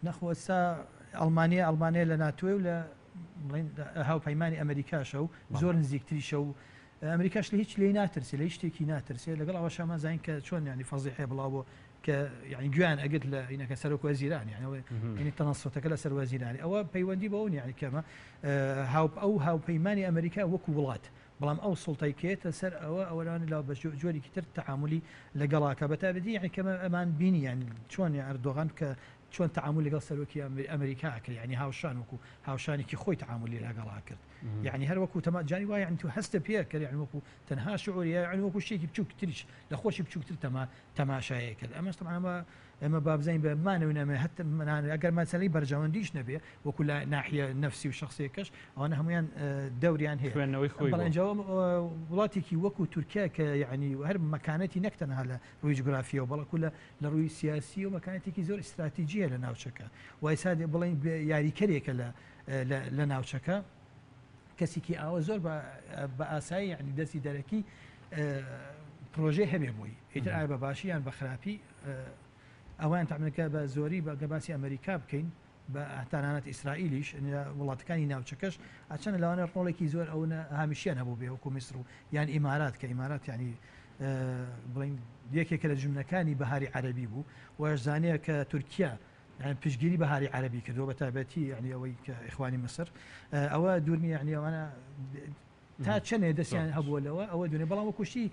نەخۆسا ئەڵمانیا ئەڵمانیا لە ناتوێ و لە هاوپەیمانی ئەمریکاشە و زۆر نزیکتریشە و ئەمریکاش لە هیچ لێ ناترسێ لە شتێکی ناترسێ لەگەڵ ئەوە شەمەزین کە چۆن ینی فەزیحێ بڵاو بۆ کە یعنی گوێیان ئەگرت لە عینەکە سەرۆک وەزیران یعنی ئەوە یعنی تەنەسوتەکە لەسەر وەزیرانی ئەوە پەیوەندی بەوە نیە یعنی کەمە هاو ئەو هاوپەیمانی ئەمریکا وەکو وڵات بەڵام ئەو سڵتەی کێتە سەر ئەوە ئەوەرانی لا بە جۆرێکی تر تعاملی لەگەڵاکە بەتابەتی یعنی کەمە ئەمان بینی یعنی چۆن ئەردۆغان کە چۆن تعامل لەگەڵ سەرۆکی ئەمریکا ئەکرد یعنی هاوشان وەکو هاوشانێکی خۆی تعاملی لەگەڵا کرد یعنی هەر وەکو تەما جاری وایە تو هەستە پێ کە یعنی وەکو تەنها شعوری یعنی وەکو شتێکی بچووکتریش لە خۆشی بچووکتر تەما تەماشایەک کرد ئەمەش تەبعەن وا ئێمە با بزانین بە مانەوەی نامێ هەت منان ئەگەر مەسەلەی بەرژەوەندیش نەبێ وەکو لە ناحیە نەفسی و شخصیەکەش ئەوانە هەمویان دەوریان هەیە خوێندنەوەی خۆی بەڵێ بۆ. ئینجا وەم- وڵاتێکی وەکو تورکیا کە یەعنی هەر مەکانەتی نەک تەنها لە ڕووی جوگرافیەوە بەڵکو لە لە ڕووی سیاسیەوە مەکانەتێکی زۆر ئیستراتیجی هەیە لە ناوچەکە و ئێستا دێ بڵێین بێ یاریکەرێکە لە لە لە ناوچەکە. کەسیکی ئاوا زۆر بە بە ئاسایی یانی دەستی دەرەکی پرۆژەی هەبێ بۆی ئیتر ئایا بە باشی یان بە خراپی ئەوان تامەکە بە زۆری بە گەباسی ئەمریکا بکەین بە تانانەت ئیسرائیلیش وڵاتەکانی ناوچەکەش ئەچەن لەوانە ڕۆڵێکی زۆر ئەو هامیشیان هەبوو بێ وەکو میسر و یان ئیمارات کە ئیمارات ینی بڵین یەکێکە لە جمنەکانی بەهاری عەربی بوو وەشزانەیە کە تورکیا پشتگیری بەهاری عەرەبی کردوە بەتایبەتی یەعنی ئەوەی کە ئیخوانی میسر ئەوە دوور نیە یەعنی ئەوانە تا چەندێ دەستیان هەبووە لەوە ئەوە دونێ بەڵام وە کوشتی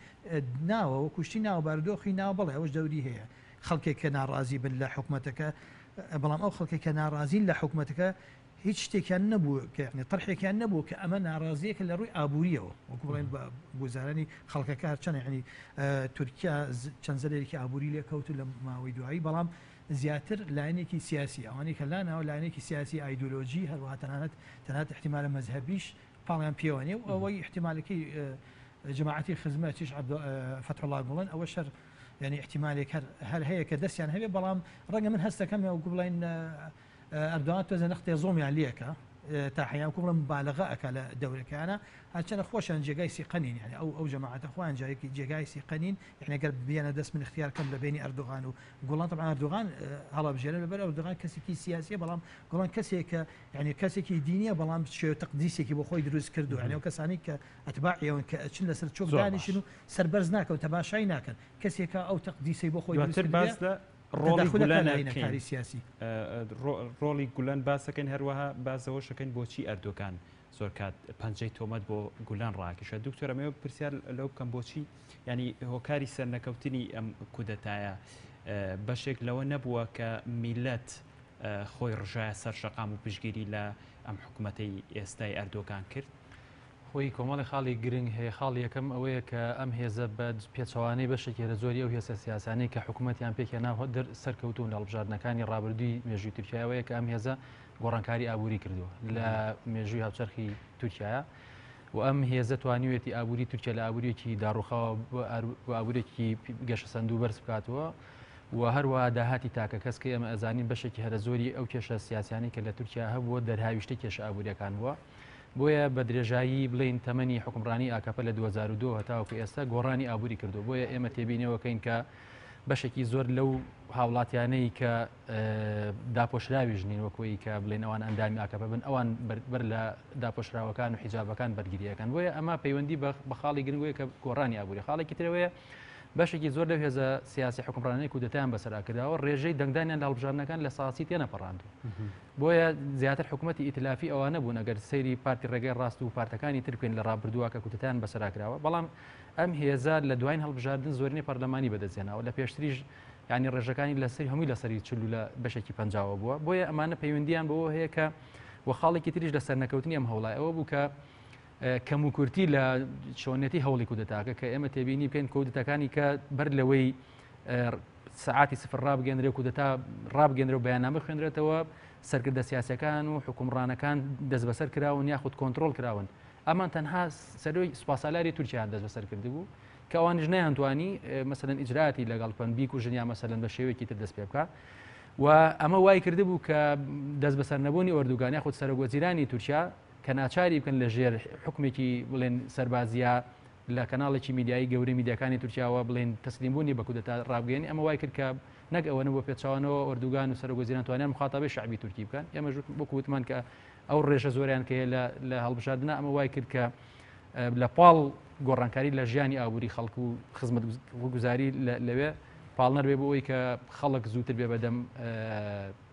ناوە وە کوشتی ناو بارودۆخی ناو بڵێ ئەوەش دەوری هەیە خەڵکێک کە ناڕازی بن لە حکوومەتەکە بەڵام ئەو خەڵکێک کە ناڕازین لە حکوومەتەکە هیچ شتێکیان نەبوو کەنی تڕحێکیان نەبوو کە ئەمە ناڕازیەکە لە ڕووی ئابوووریەوە وەکو بڵێن بە گوزارانی خەڵکەکە هەرچەنەنی تورکیا چەند زەرێکی ئابووری لێکەوت و لە ماوەی دوایی بەڵام زیاتر لایەنێکی سیاسی، ئەوانەی کە لا ناوە لایەنێکی سیاسی، ئایدۆلۆژی، هەروەها تەنانەت تەنانەت ئیحتیمالە مەزهەبیش پاڵیان پێوە نیە و ئەوەی ئیحتیمالەکەی جەماعەتی خزمە چیش عەبدۆ فەتحوڵا گوڵن ئەوە شەر یانی ئیحتیمالێک هەر هەر هەیە کە دەستیان هەبێ بەڵام ڕەنگە من هەستەکەم یاوگو بڵێن ئەردۆغان تۆزێ نەختێ زوڵمیان لێکا تا حەیام کو بڵێ مبالغە ئەکا لە دەورەکەیانە هەرچەنە خۆشیان جێگای سیقە نین یانی ئەو ئەو جەماعەتە خۆیان جارێکی جێگای سیقە نین یعنی گەر بیانە دەست من اختیار کەم لە بینی ئەردۆغان و گوڵان طبعا ئەردۆغان هەڵەبژێرە لەبەر ئەردۆغان کەسێکی سیاسیە بەڵام گوڵان کەسێکە یعنی کەسێکی دینیە بەڵام شێ تەقدیسێکی بۆ خۆی دروست کردو یعنی ئەو کەسانی کە ئەتباع ئێوەن کە ئەچن لەسەر چۆک زۆر باش. دانیشن و سەربەرز ناکەن تەماشای ناکەن کەسێکە ئەو تەقدیسەی بۆ خۆی دروست دواتر کردووە. باس لە تەداخولە کە لە کاری سیاسی. ڕۆڵی گولەن باسەکەین هەروەها باسەوەشەکەین بۆچی ئەردۆگان زۆر کات پەنجەی تۆمەت بۆ گولەن ڕاکیشە دکتۆر ئەمێ پرسیار لەو بکەم بۆچی ینی هۆکاری سەرنەکەوتنی ئەم کودەتایە بەشێک لەوە نەبووە کە میلەت خۆی ڕژایە سەر شەقام و پشگیری لە ئەم حکوومەتەی ئێستای ئەردۆگان کرد خۆی کۆمەڵێ خاڵی گرنگ هەیە، خاڵی یەکەم ئەوەیە کە ئەم هێزە بە پێچەوانەی بەشێکی لە زۆری ئەو هێزە سیاسانەی کە حکوومەتیان پێک هێنا سەرکەوتوون لە هەڵبژاردنەکانی ڕابردووی مێژووی تورکیای ئەوەیە کە ئەم هێزە گۆڕانکاری ئابووری کردووە لە مێژووی هاوچەرخی تورکایە و ئەم هێزە توانیوێتی ئابووری تورکیا لە ئابووریەکی داڕوخاوە ئابوورێکی گەشە سندوو بەرز بکاتەوە و هەروە داهاتی تاکە کەس کە ئەمە ئەزانین بەشێکی هەرە زۆری ئەو کێشە سیاسانی کە لە تورکیا هەبووە دەرهاویشتە کێشە ئابووریەکان بووە بۆیە بە درێژایی بڵێین تەمەنی حوکمڕانی ئاکەپە لە دوو هەزار و دوو هەتاوەکو ئێستا گۆڕانی ئابووری کردووە بۆیە ئێمە تێبینەوەکەین کە بەشێکی زۆر لەو هاوڵاتیانەی کە داپۆشراویش نین وەکوی کە بڵێن ئەوان ئەندامی ئاکەپە بن ئەوان بەر لە داپۆشراوەکان و حیجابەکان بەرگریەکان بۆیە ئەمە پەیوەندی بە خاڵی گرنگوەیە کە گۆڕانی ئابووری خاڵێکی ترەوەیە بەشێکی زۆر لەو هێزە سیاسی حکومڕانەی کودەتیان بەسەر ئەکراوە ڕێژەی دەنگدانیان لە هەڵبژاردنەکان لە ساسی تێنەپەڕاندو بۆیە زیاتر حکوومەتتی ئیتلافی ئەوانە بوون ئەگەر سەیری پارتی ڕێگەی ڕاست و پارتەکانی ترکن لە ڕابردووە کە کوتتان بەسەراکراوە بەڵام ئەم هێزار لە دوایین هەڵبژاردن زۆرنی پەرلەمانی بەدەستێنەوە لە پێشتریش ینی ڕێژەکانی لەسەر هەمووی لەسەری چلو لە بەشێکی پنجاوە بووە بۆیە ئەمانە پەیوەندیان بەوە هەیە کە وە خاڵێکی تریش لە سەرنەکەوتنی ئەم هەوڵای ئەوە بوو کە کەموکورتی لە چۆنیەتی هەوڵی کودەتاکە کە ئێمە تێبینی بکەین کودتەکانی کە بەر لەوەی سعاتی سفر ڕابگەندرێ و کودەتا ڕابگەندرە و بەیانامە خوێنرێتەوە سەرکردە سیاسەکان و حکومڕانەکان دەست بەسەر کراون یاخود کۆنتترۆل کراون ئەمان تەنها سەروی سوپاسالاری تورکیان دەست بەسەر کردبوو کە ئەوانش نەیانتوانی مەسەن ئیجراتی لەگەڵ پەن بیک و ژنیا مەسەن بە شێوەیەکی تر دەست پێ بکە و ئەمە وای کرده بوو کە دەست بەسەر نەبوونی ئۆردوگانیا خود سەرۆک وەزیرانی تورکیا کە ناچاری بکەن لە ژێر حوکمێکی بڵێن سەربازییە لە کەناڵێکی میدیایی گەورەی میدیاکانی تورکیاوە بڵێن تەسلیم بوونی بە کودەتا ڕابگەیەنی ئەمە وای کرد کە نەک ئەوەنە بۆ پێچوانەوە ئۆردوگان و سەرۆک وەزیران توانیان مخاطبەی شعبی تورکی بکەن ئێمە ژوت وەکو وتمان کە ئەو ڕێژە زۆریان کە لە لە هەڵبژاردنە ئەمە وای کرد کە لە پاڵ گۆڕانکاری لە ژیانی ئابووری خەڵکو و خزمەت گوزاری لەوێ پاڵنەر بێ بۆ ئەوی کە خەڵک زووتر بێ بەدەم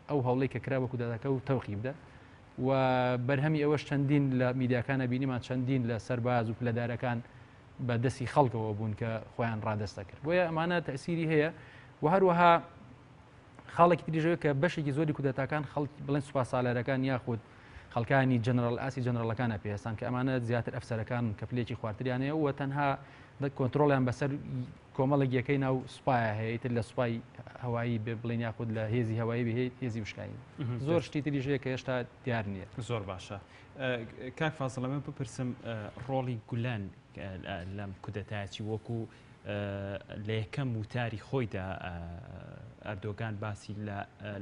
ئەو هەوڵی کە کرا بە کودەتەکە و تەوقی بدە و بەرهەمی ئەوەش چەندین لە میدیاکانە بینیمان چەندین لە سەرباز و پلەدارەکان بە دەستی خەڵکەوە بوون کە خۆیان ڕادستە کرد بۆیە ئەمانە تەسیری هەیە و هەروەها خاڵێکی تریژەوە کە بەشێکی زۆری کودەتاکان خەڵک بڵێن سوپاسالەرەکان یاخود خەڵکانی جنرال ئاسی جنرالەکانە پێستان کە ئەمانە زیاتر ئەفسەرەکان کە پلێکی خواردریانەیە و تەنها کۆنتترۆلیان بەسەر کۆمەڵێک یەکەی ناو سوپایا هەیە ئیتر لە سوپای هەوایی بێ بڵێن یاخود لە هێزی هەوایی بێ هێزی وشکایی زۆر شتی تریش هەیە کە هێشتا دیار نییە زۆر باشە کاک فازڵەمە بپرسم ڕۆڵی گولەن لەم کودەتایە چی وەکو لە یەکەم وتاری خۆیدا ئەردۆگان باسی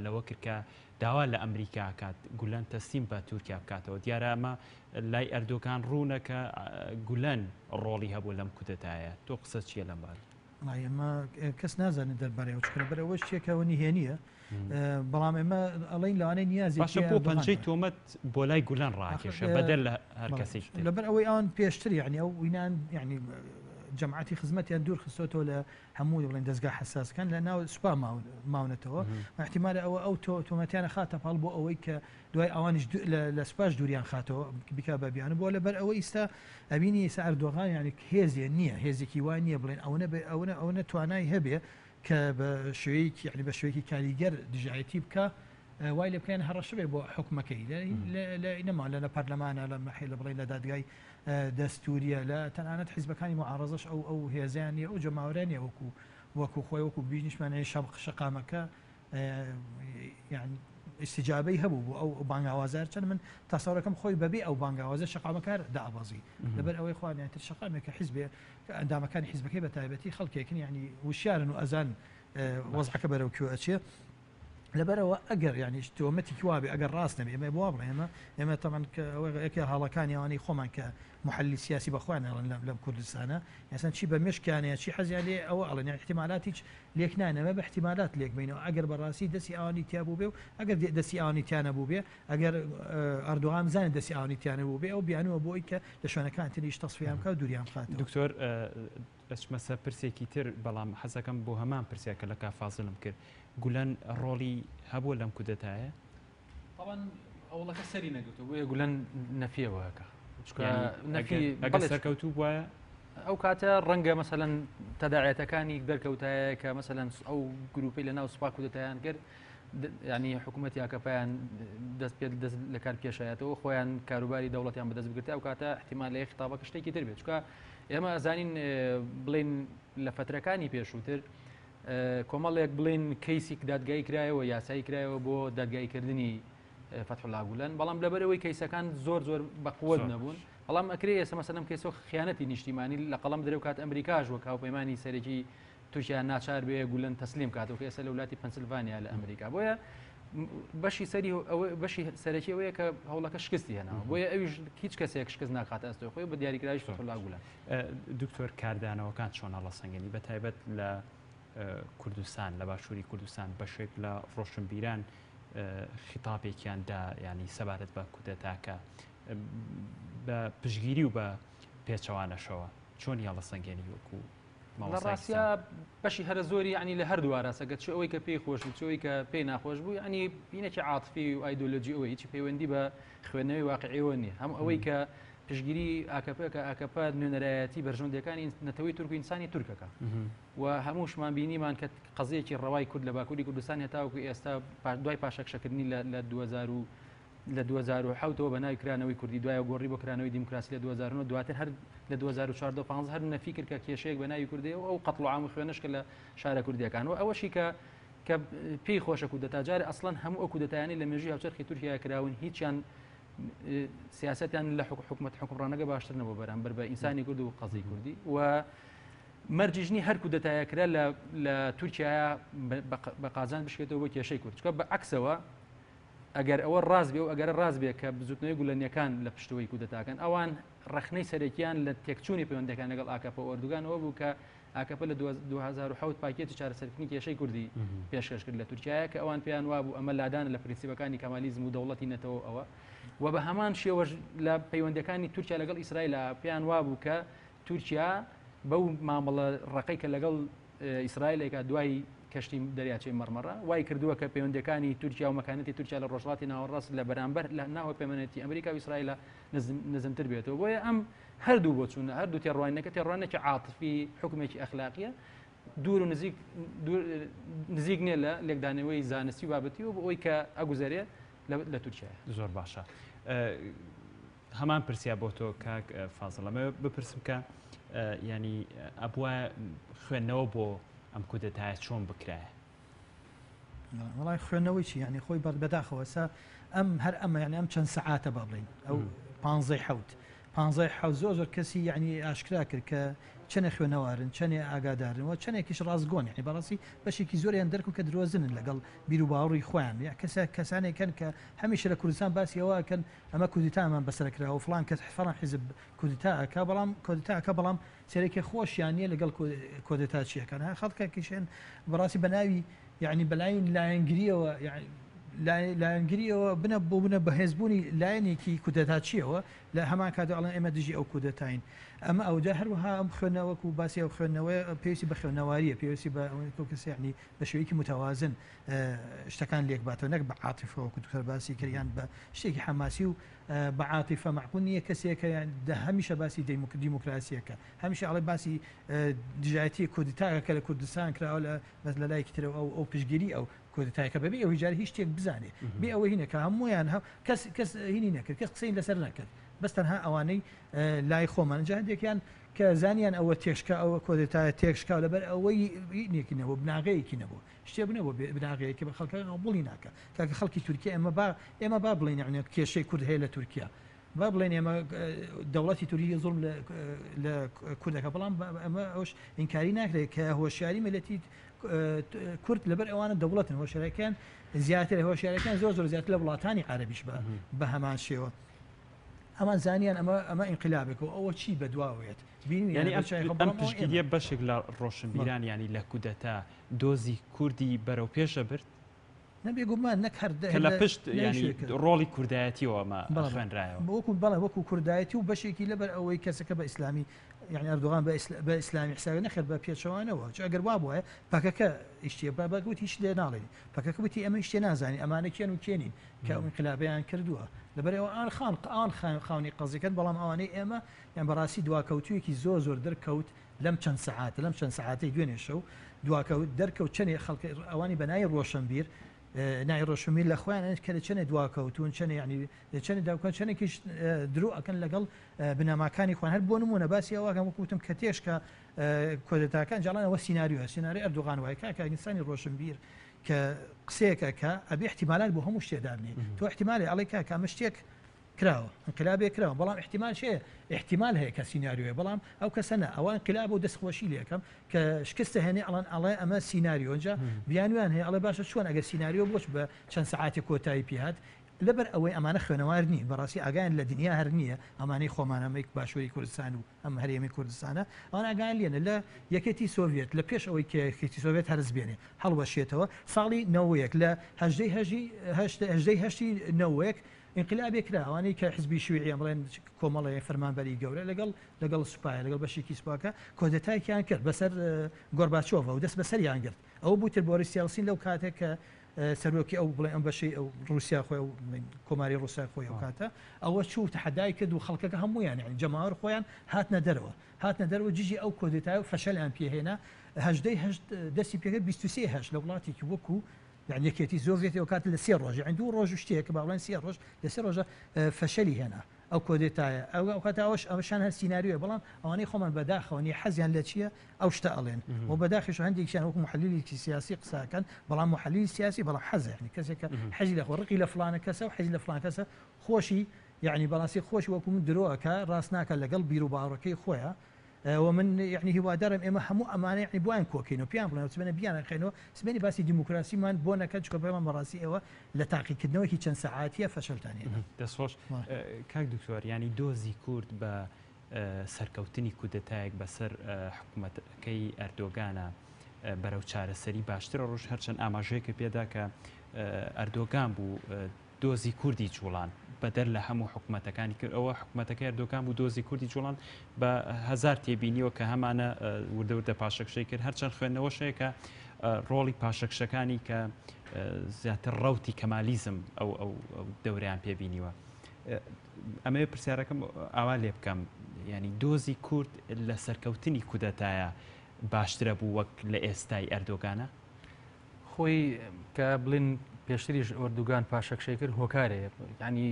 لەوە کرد کە داوا لە ئەمریکا کات گولەن تەسلیم بە تورکیا بکاتەوە دیارە ئەمە لای ئەردۆگان ڕوونە کە گولەن ڕۆڵی هەبووە لەم کودەتایە، تۆ قسەت چییە لەم بارە؟ وەڵا ئێمە کەس نازانێت دەربارەی ئەوە، چکە لەبەر ئەوەش چیەکەوە نهێنییە، بەڵام ئێمە ئەڵێین لەوانەیە نیازێکی هەبێت. باشە بۆ پەنجەی تۆمەت بۆ لای گولەن ڕاکێشا بەدەر لە هەر کەسێکی تر؟ لەبەر ئەوەی ئەوان پێشتر یەعنی ئەو وینان یەعنی جەماعەتی خزمەتیان دوور خستۆتەوە لە هەموو بڵێن دەزگا حەساسەکان لە ناو سوپا ماونەتەوە ئەحتیمالە ئەوە ئەو تۆمەتیانە خاتە پاڵ بۆ ئەوەی کە دوای ئەوانیش لە سوپاش دووریان خاتەوە بیکا بە بیانوو بۆ لەبەر ئەوە ئیستا ئەبینی ئیسا ئەردۆغان یانی هێزێ نییە هێزێکی وای نییە بڵێن ئەوەنە بێ ئەوەنە ئەوەنە توانای هەبێ کە بە شوێیەکی یعنی بە شوێکی کاریگەر دژایەتی بکە وای لە بکەن هەڕەشە بێ بۆ حکومەکەی نەما لە لە پەرلەمانە لە مەحی لە بڵێن لە دادگای دەستوریە لە تەنانەت حیزبەکانی معڕزش ئەو ئەو هێزیان نیە ئەو جەماورانیە وەکو وەکو خۆی وەکو بینیشمانەیە شەم شقامەکە یان ئیستیجابەی هەبوو بۆ ئەو بانگاوازار چەند من تاسەڕەکەم خۆی بەبێ ئەو بانگاوازە شقامەکار دابازی لەبەر ئەوەی خوانیان تر شقامێکە حیزبێ کە ئەندامەکانی حیزبەکەی بە تایبەتی خەڵکێکن ینی وشارن و ئەزان وەزعەکە بەرەو کوێ ئەچێ لەبەرەوە ئەگەر یانیش تۆمەتیکی وابێ ئەگەر ڕاست نەبێ ئمە بوا بڵێ ئێمە ئێمە تەمەن کە ئەوەێکی هاڵەکانی ئەوانەی خۆمان کە محللی سیاسی بە خۆیان ئەڵێن لە لەم کوردستانە یاسان چی بە مێشکیانەیە چی حەزیان لێ ئەوە ئەڵێن یان احتمالات هیچ لێک نایەن ئەمە بە احتمالات لێک بینەوە ئەگەر بەڕاستی دەستی ئەوانی تیا بووبێ و ئەگەر دێ دەستی ئەوانی تیا نەبووبێ ئەگەر ئەردۆغان بزانێت دەستی ئەوانی تیا نەبووبێ ئەو بیانووە بۆ ئەوی کە لە شوێنەکان تریش تەسفیەیان بکا و دووریان بخاتەوە. دکتۆر ئەچمە سەر پرسێکی تر بەڵام حەز ئەکەم بۆ هەمان پرسیار کە لە کاک فازڵم کرد گولەن ڕۆڵی هەبووە لەم کودەتایە؟ تەبەن هەوڵەکە سەری نەگرتو بۆیە گولەن نەفیەوە ئەکا ئەگەر سەرکەوتوو بواە ئەو کاتە ڕەنگە مەسەەن تەداعەتەکانی دەرکەوتایە کە مەسەەن ئەو گروپی لە ناو سوپاک و دەتیان کرد ینی حکوومەت یاکەپیان دەست پێ دەست لە کار پێشایەتەوە خۆیان کاروباری دەوڵەتیان بەدەست بگرێت ئەو کاتە احتیمال لە خطابەکە شتێکی تر بێت چکە ئێمە ئەزانین بڵین لە فترەکانی پێشووتر کۆمەڵێک بڵێن کەیسیک دادگایی کرایەوە یاسایی کرایەوە بۆ دادگایی کردنی فتحلا گولەن بەڵام لەبەرەوەی کەیسەکان زۆر زۆر بەقوت نەبوون بەڵام ئەکرێ ئێسە مەسەدەم کەیسۆ خیانەتی نیشتیمانی لە قەڵم درێو کات ئەمریکاش وە کاوپەیمانانی سەرەکی تورکیا ناچار بێ گولەن تەسلیم کاتەوە کە ئێستا لە ولاتی پەنسلڤانیا لە ئەمریکا بۆیە بەشی سەری بەشی سەرەکی ئەوەیە کە هەوڵەکە شکستی هێنا بۆیە ئەویش هیچ کەسێک شکست ناکاتە ئەستۆ خۆی بە دیاریکراوی فتحلا گولەن دکتۆر کاردانەوەکان چۆنە ڵە سەنگەنی بە تایبەت لە کوردستان لە باشووری کوردستان بەشێک لە ڕۆشنبیران خیتاپێکیان دا ینی سەبارەت بە کودەتاکە بە پشگیری و بە پێچەوانەشەوە چۆن یاڵە سەنگێنی وەکو لە ڕاستە بەشی هەرە زۆری ینی لە هەردوو ئاراستەکە چ ئەوەی کە پێی خۆش بچەوەی کە پێی ناخۆش بوو ینی بینێکی عاتفی و ئایدۆلۆژی ئەوەی هیچی پەیوەندی بە خوێندنەوەی واقعی ئەوە نیە هەم ئەوەی کە پشگیری ئاکەپە کە ئاکەپە نوێنەرایەتی بەرژەوندەکانی نەتەوەی تورک و ئینسانی تورکەکە و هەمووشمان بینیمان کە قەزیەکی ڕەوای کورد لە باکووری کوردستان هێتاوەکو ئێستا دوای پاشەکشەکردنی لە 2000 لە 2010ەوە بە ناوی کرانەوەی کوردی دوای گۆڕی بۆ کرانەوەی دیموکراسی لە 2009 دواتر هەر لە 2014 هەر نەفیکرد کە کێشەیەک بە ناوی کوردی و ئەو قەتڵ عام خوێنشکە لە شارە کوردیەکان و ئەوەشی کە کە پێی خۆشە کودەتا جارێ ئەسڵەن هەموو ئەو کودەتایانی لە مێژوی هاوچەرخی تورکیا کراون هیچیان سیاستیان لە حکو حکومت حکوڕانەکە باشتر نەبوو بەرامبەر بە ئینسانی کرد و قەزی کوردی و مەرجژنی هەر کودەتایە کرا لە تورکیا بە قازان بشێتەوە بۆ کێشەی کورد چکە بە عکسەوە ئەگەر ئەوە ڕاست بێ و ئەگەر ڕاست بێ کە بزوتنەوەی گولەنیەکان لە پشتەوەی کودەتاکەن ئەوان ڕەخنەی سەرەکییان لە تێکچوونی پەیوەندییەکان لەگەڵ ئاکەپە و ئۆردوگان ئەوە بوو کە ئاکەپە لە دوو هەزار و حەوت پاکێجی چارەسەرکردنی کێشەی کوردی پێشکەش کرد لە تورکیایە کە ئەوان پێیان وابوو ئەمە لادانە لە پرنسیپەکانی کەمالیزم و دەوڵەتی نەتەوە و ئەوە و بە هەمان شێوەش لە پەیوەندیەکانی تورکیا لەگەڵ ئیسرائیل پێیان وابوو کە تورکیا بەو مامەڵە ڕقی کە لەگەڵ ئیسرائیلێکە دوای کەشتی دەریاچەی مەرمەڕە وای کردووە کە پەیوەندەکانی تورکیا و مەکانەتی تورکیا لە ڕۆژڵاتی ناوەڕاست لە بەرامبەر لە ناوە پەیمەنێتی ئەمریکا و ئیسرائیلە نزمتر بێتەوە بۆیە ئەم هەردوو بۆ چوونە هەردوو تێڕوانەکە تێڕوانێکی عاتفی حکومێکی ئەخلاقیە دوور و نزیک نزیک نیە لە لێکدانەوەی زانستی و بابەتی و بۆ ئەوی کە ئەگوزارێت لە تورکیا زۆر باشە هەمان پرسیا بۆ تۆ کاک فازڵ ئەمە بپرسم کە ینی ئەبووە خوێندنەوە بۆ ئەم کودەتایە چۆن بکرایە وڵای خوێنەوەی چی یعنی خۆی بەر بەداخەوەسا ئەم هەر ئەمە یعنی ئەم چەند سەعاتە با بڵین ئەو پانزەی حوت پانزای حوت زۆر زۆر کەسی یعنی ئاشکرا کرد کە چەنێ خوێنەوارن چەنێ ئاگادارنەوە چەندێکیش ڕاستگۆن یعنی بەڕاستی بەشێکی زۆریان دەرکو کە درۆزنن لەگەڵ بیرو باوڕی خۆیان کەسە کەسانێکن کە هەمیشە لە کوردستان باسی ئەوەکەن ئەمە کودتا ئەمان بەسەر کرا و فڵان کەس فڵان حیزب کودتا ئەکا بەڵام کودتا ئەکا بەڵام چەرێکی خۆشیان نیە لەگەڵ کۆدێتاچیەکان ها خەڵکە کیشێن بەڕاستی بەناوی یعنی بەلای لایەنگریەوە لایەنگریەوە بنە بۆ بنە بەهێزبوونی لایەنێکی کودەتاچیەوە لە هەمان کاتە ئەڵێن ئێمە دژی ئەو کودەتاین ئەمە ئەوجا هەروەها ئەم خوێنەوەکو باسی ئەو خوێندنەوەی پێویستی بە خوێندنەواریە پێویستی بە کەسیانی بە شێوەیەکی متوازن شتەکان لێک باتەوە نەک بە عاتیفەوە کو دوکتەر باسی کردیان بە شتێکی حەماسی و بە عاتیفە معقول نییە کەسێکە دە هەمیشە باسی دیموکراسیەکە هەمیشە ئەڵێ باسی دژایەتی کودتاگە کە لە کوردستان کراوە لە بەس لە لایەکی ترەوە ئەو ئەو پشگیری ئەو کودتایەکە بەبێ ئەو هیجار هیچ شتێک بزانێت بێ ئەوە هینە کە هەمویان هە کەس کەس هینی نەکرد کەس قسەی لەسەر نەکرد بەس تەنها ئەوانەی لای خۆمان جاهندێکیان کە زانیان ئەوە تێشکا ئەوە کۆدێتایە تێکشکاو لەبەر ئەوەی نێکینەوە بناغەیەکی نەبوو شتێ بنە بۆ بناغەیە کە خەڵکە قبوڵی ناکە تاکە خەڵکی تورکیا ئێمە با ئێمە با بڵێن یعنی کێشەی کورد هەیە لە تورکیا با بڵێن ئێمە دەوڵەتی توری زۆر لە کوردەکە بەڵام ئەمە ئەوش ئینکاری ناکرێت کە هۆشیاری مەلەتی کورد لەبەر ئەوانە دەوڵەتن هۆشارەکان زیاتر هۆشارەکان زۆر زۆر زیاتر لە وڵاتانی عربیش بە بە هەمان شێوە ئەمان زانیان ئەمە ئەمە ئینقلابێک و ئەوە چی بەدواوێت بینیانی ئەم تشتیە بەشێک لە ڕۆشنبیران ینی لە کودەتا دۆزی کوردی بەرەو پێش ئەبرد کە لە پشت ڕۆڵی کوردایەتیەوە مە خوێنرایەوە بۆکو بەڵێ وەکو کوردایەتی و بەشێکی لەبەر ئەوەی کەسەکە بە ئیسلامی یعنی ئەردوغان بە ئیسلامی حساوی نەخێر بە پێچەوانەوە چ ئەگەر وا بواە پەکەکە ئیشتێ بە بەگوت هیچ لێ ناڵێن پەکەکە وتی ئەمە شتێ نازانانی ئەمانە کێن و کێنین کە ئەوین قلابیان کردووە لەبەرەوە ئان خان ئان خاوێن خاونی قەزیکرد بەڵام ئەوانەی ئێمە یان بەڕاستی دواکەوتویەکی زۆر زۆر دەرکەوت لەم چەند سەعات لەم چەند سەعاتەی دوێنێ شەو دواکەوت دەرکەوت چەنێ خەڵک ئەوانی بە نای ڕۆشنبیر نای ڕۆشنبیر لە خۆیان کە لە چەنێ دواکەوتون چەنێ ینی چەنێ داکەن چەنێکیش درو ئەکەن لەگەڵ بنەماکانی خوان هەر بۆ نمونە باسی ئەوواکەم وکوتم کە تێشکە کۆدەتاکان جاڵانەوە سینناریو سیننااری ئەردوغان وای کاکە ئینسانی ڕۆشنبیر کە قسەیەکە کە ئەبێ احتیمالات بۆ هەموو شتێدابنێ تۆ احتیمالی ئەڵی کاکە ئەمە شتێک کراوە انقلابێ کراوە بەڵام احتمالش هەیە احتمال هەیە کە سیناریۆیە بەڵام ئەو کەسە نا ئەوە انقلابە و دەست خۆشی لێ ئەکەم کە شکستە هەنێ ئەڵێن ئەڵێ ئەمە سیناریۆ ئەنجا بیانویان هەیە ئەڵێ باشە چۆن ئەگەر سیناریۆ بۆچ بە چەند سەعاتێ کۆتایی پێ هات لەبەر ئەوەی ئەمانە خوێنەوار نین بەڕاستی ئاگایان لە دنیا هەر نییە ئەمانەی خۆمان ئەمەی باشووری کوردستان و ئەم هەرێمی کوردستانە ئەوان ئاگایان لێنە لە یەکێتی سۆڤێت لە پێش ئەوەی کە یەکێتی سۆڤێت هەرس بێنێ هەڵوەشێتەوە ساڵی نەوەیەک لە هەژدەی هەژی هەشت هەژدەی هەشتی نەوەیەک ئینقلابێ کرا ئەوانەی کە حزبی شویعیە بڵێن کۆمەڵێ فەرمانبەری گەورە لەگەڵ لەگەڵ سوپایە لەگەڵ بەشێکی سوپاکە کۆدەتایەکیان کرد بەسەر گۆرباچۆڤە و دەست بەسەریان گرت ئەوە بوو تر بۆریس یەلسین لەو کاتێک کە سەرۆکی ئەو بڵێ ئەم بەشەی ئەو روسیا خۆی و کۆماری روسای خۆی ئەو کاتە ئەوە چوو تەحەدای کرد و خەڵکەکە هەمویان یعنی جەماوەر خۆیان هاتنە دەرەوە هاتنە دەرەوە دژی ئەو کۆدێتای و فەشەلیان پێهێنا هەژدەی هەشت دەستی پێکرد بیست و سێ هەشت لە وڵاتێکی وەکوو یان یەکێتی زۆر زێتی ئەو کات لە سێ ڕۆژ یان دوو ڕۆژ شتێک با بڵێن سێ ڕۆژ لە سێ ڕۆژە فەشەلی هێنا ئەو کۆدێتایە ئەو ئەو کات ئەوش ئەوشان هەر سینناریوە بەڵام ئەوانەی خۆمان بەداخەوەنی حەزیان لە چییە ئەو شتە ئەڵێن و بەداخش هەندێکیان وەک محلیلیکی سیاسی قساکەن بەڵام محلی سیاسی بەڵام حەزیانی کەسێکە حەزی لە خۆڕقی لە فلانە کەسە و حەزی لە فلان کەسە خۆشی یعنی بەڵاسی خۆش وەکو من درۆەکە ڕاستناکە لەگەڵ بیر و باڕەکەی خۆیان و من یەعنی هیوادارم ئێمە هەموو ئەمانە یەعنی بۆیان کۆکەین و پێیان بڵێین سبەینێ بیاننرخێن و سبەینێ باسی دیموکراسیمان بۆ نەکەن چونکە بڵێمان بەڕاستی ئێوە لە تاقیکردنەوەکی چەند سەعاتییە فەشەلتان هێنا. دەست خۆش کاک دکتۆر یانی دۆزی کورد بە سەرکەوتنی کودەتایەک بەسەر حکومەتەکەی ئەردۆگانا بەرەو چارەسەری باشترە ڕوژ هەرچەند ئاماژەیەکە پێدا کە ئەردۆگان بوو دۆزی کوردی جوڵان بەدەر لە هەموو حکومەتەکانی کرد ئەوە حکومەتەکەی ئەردۆگان بوو دۆزی کوردی جوڵان بە هەزار تێبینیەوە کە هەمانە وردە وردە پاشەکشەی کرد هەرچەند خوێندنەوەش هەیە کە ڕۆڵی پاشەکشەکانی کە زیاتر ڕوتی کەمالیزم ئەو ئەو دەوریان پێبینیوە ئەمەوێ پرسیارەکەم ئاوا لێ بکەم ینی دۆزی کورد لە سەرکەوتنی کودەتایە باشترە بوو وەک لە ئێستای ئەردۆگانە خۆی کە بڵین پێشتریش ئۆردوگان پاشەکشەی کرد هۆکارەیە ینی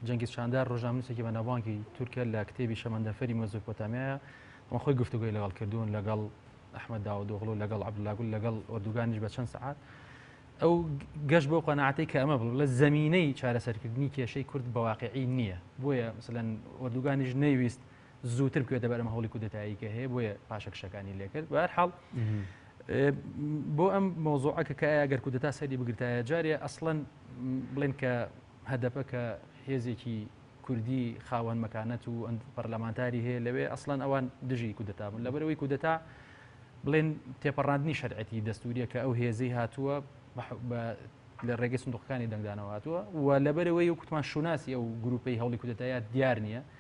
جەنگی چاندار ڕژامنووسێکی بە ناوانکی تورکیا لە کتێبی شەمەندەفەری مەزۆپۆتامایە ئەمە خۆی گفتوگوی لەگەڵ کردوون لەگەڵ ئەحمە داودۆغڵ و لەگەڵ عبدلاگول لەگەڵ ئۆردوگانیش بە چەند سعات ئەو گەش بۆ قەنەعاتی کە ئەمە بڵ لە زمینەی چارەسەرکردنی کێشەی کورد بەواقعی نییە بۆیە مثلەن ئۆردوگانیش نەیویست زووتر کوێتە بەرەم هەوڵی کودەتایی کە هەیە بۆیە پاشەکشەکانی لێکرد بە حاڵ بۆ ئەم مۆزۆعەکە کە ئەگەر کودەتا سەری بگرتایە جارێ ئەسڵەن بڵێن کە هەدەپە کە هێزێکی کوردی خاوەن مەکانەت و پەرلەمانتاری هەیە لەوێ ئەسڵەن ئەوان دژی کودەتا بوون لەبەرەوەی کودەتا بڵێن تێپەڕاندنی شەرعەتی دەستوریە کە ئەو هێزی هاتووە لە ڕێگەی سندوقەکانی دەنگدانەوە هاتووە و لەبەرەوەی و کوتمان شوناسی ئەو گروپی هەوڵی کودەتایات دیار نییە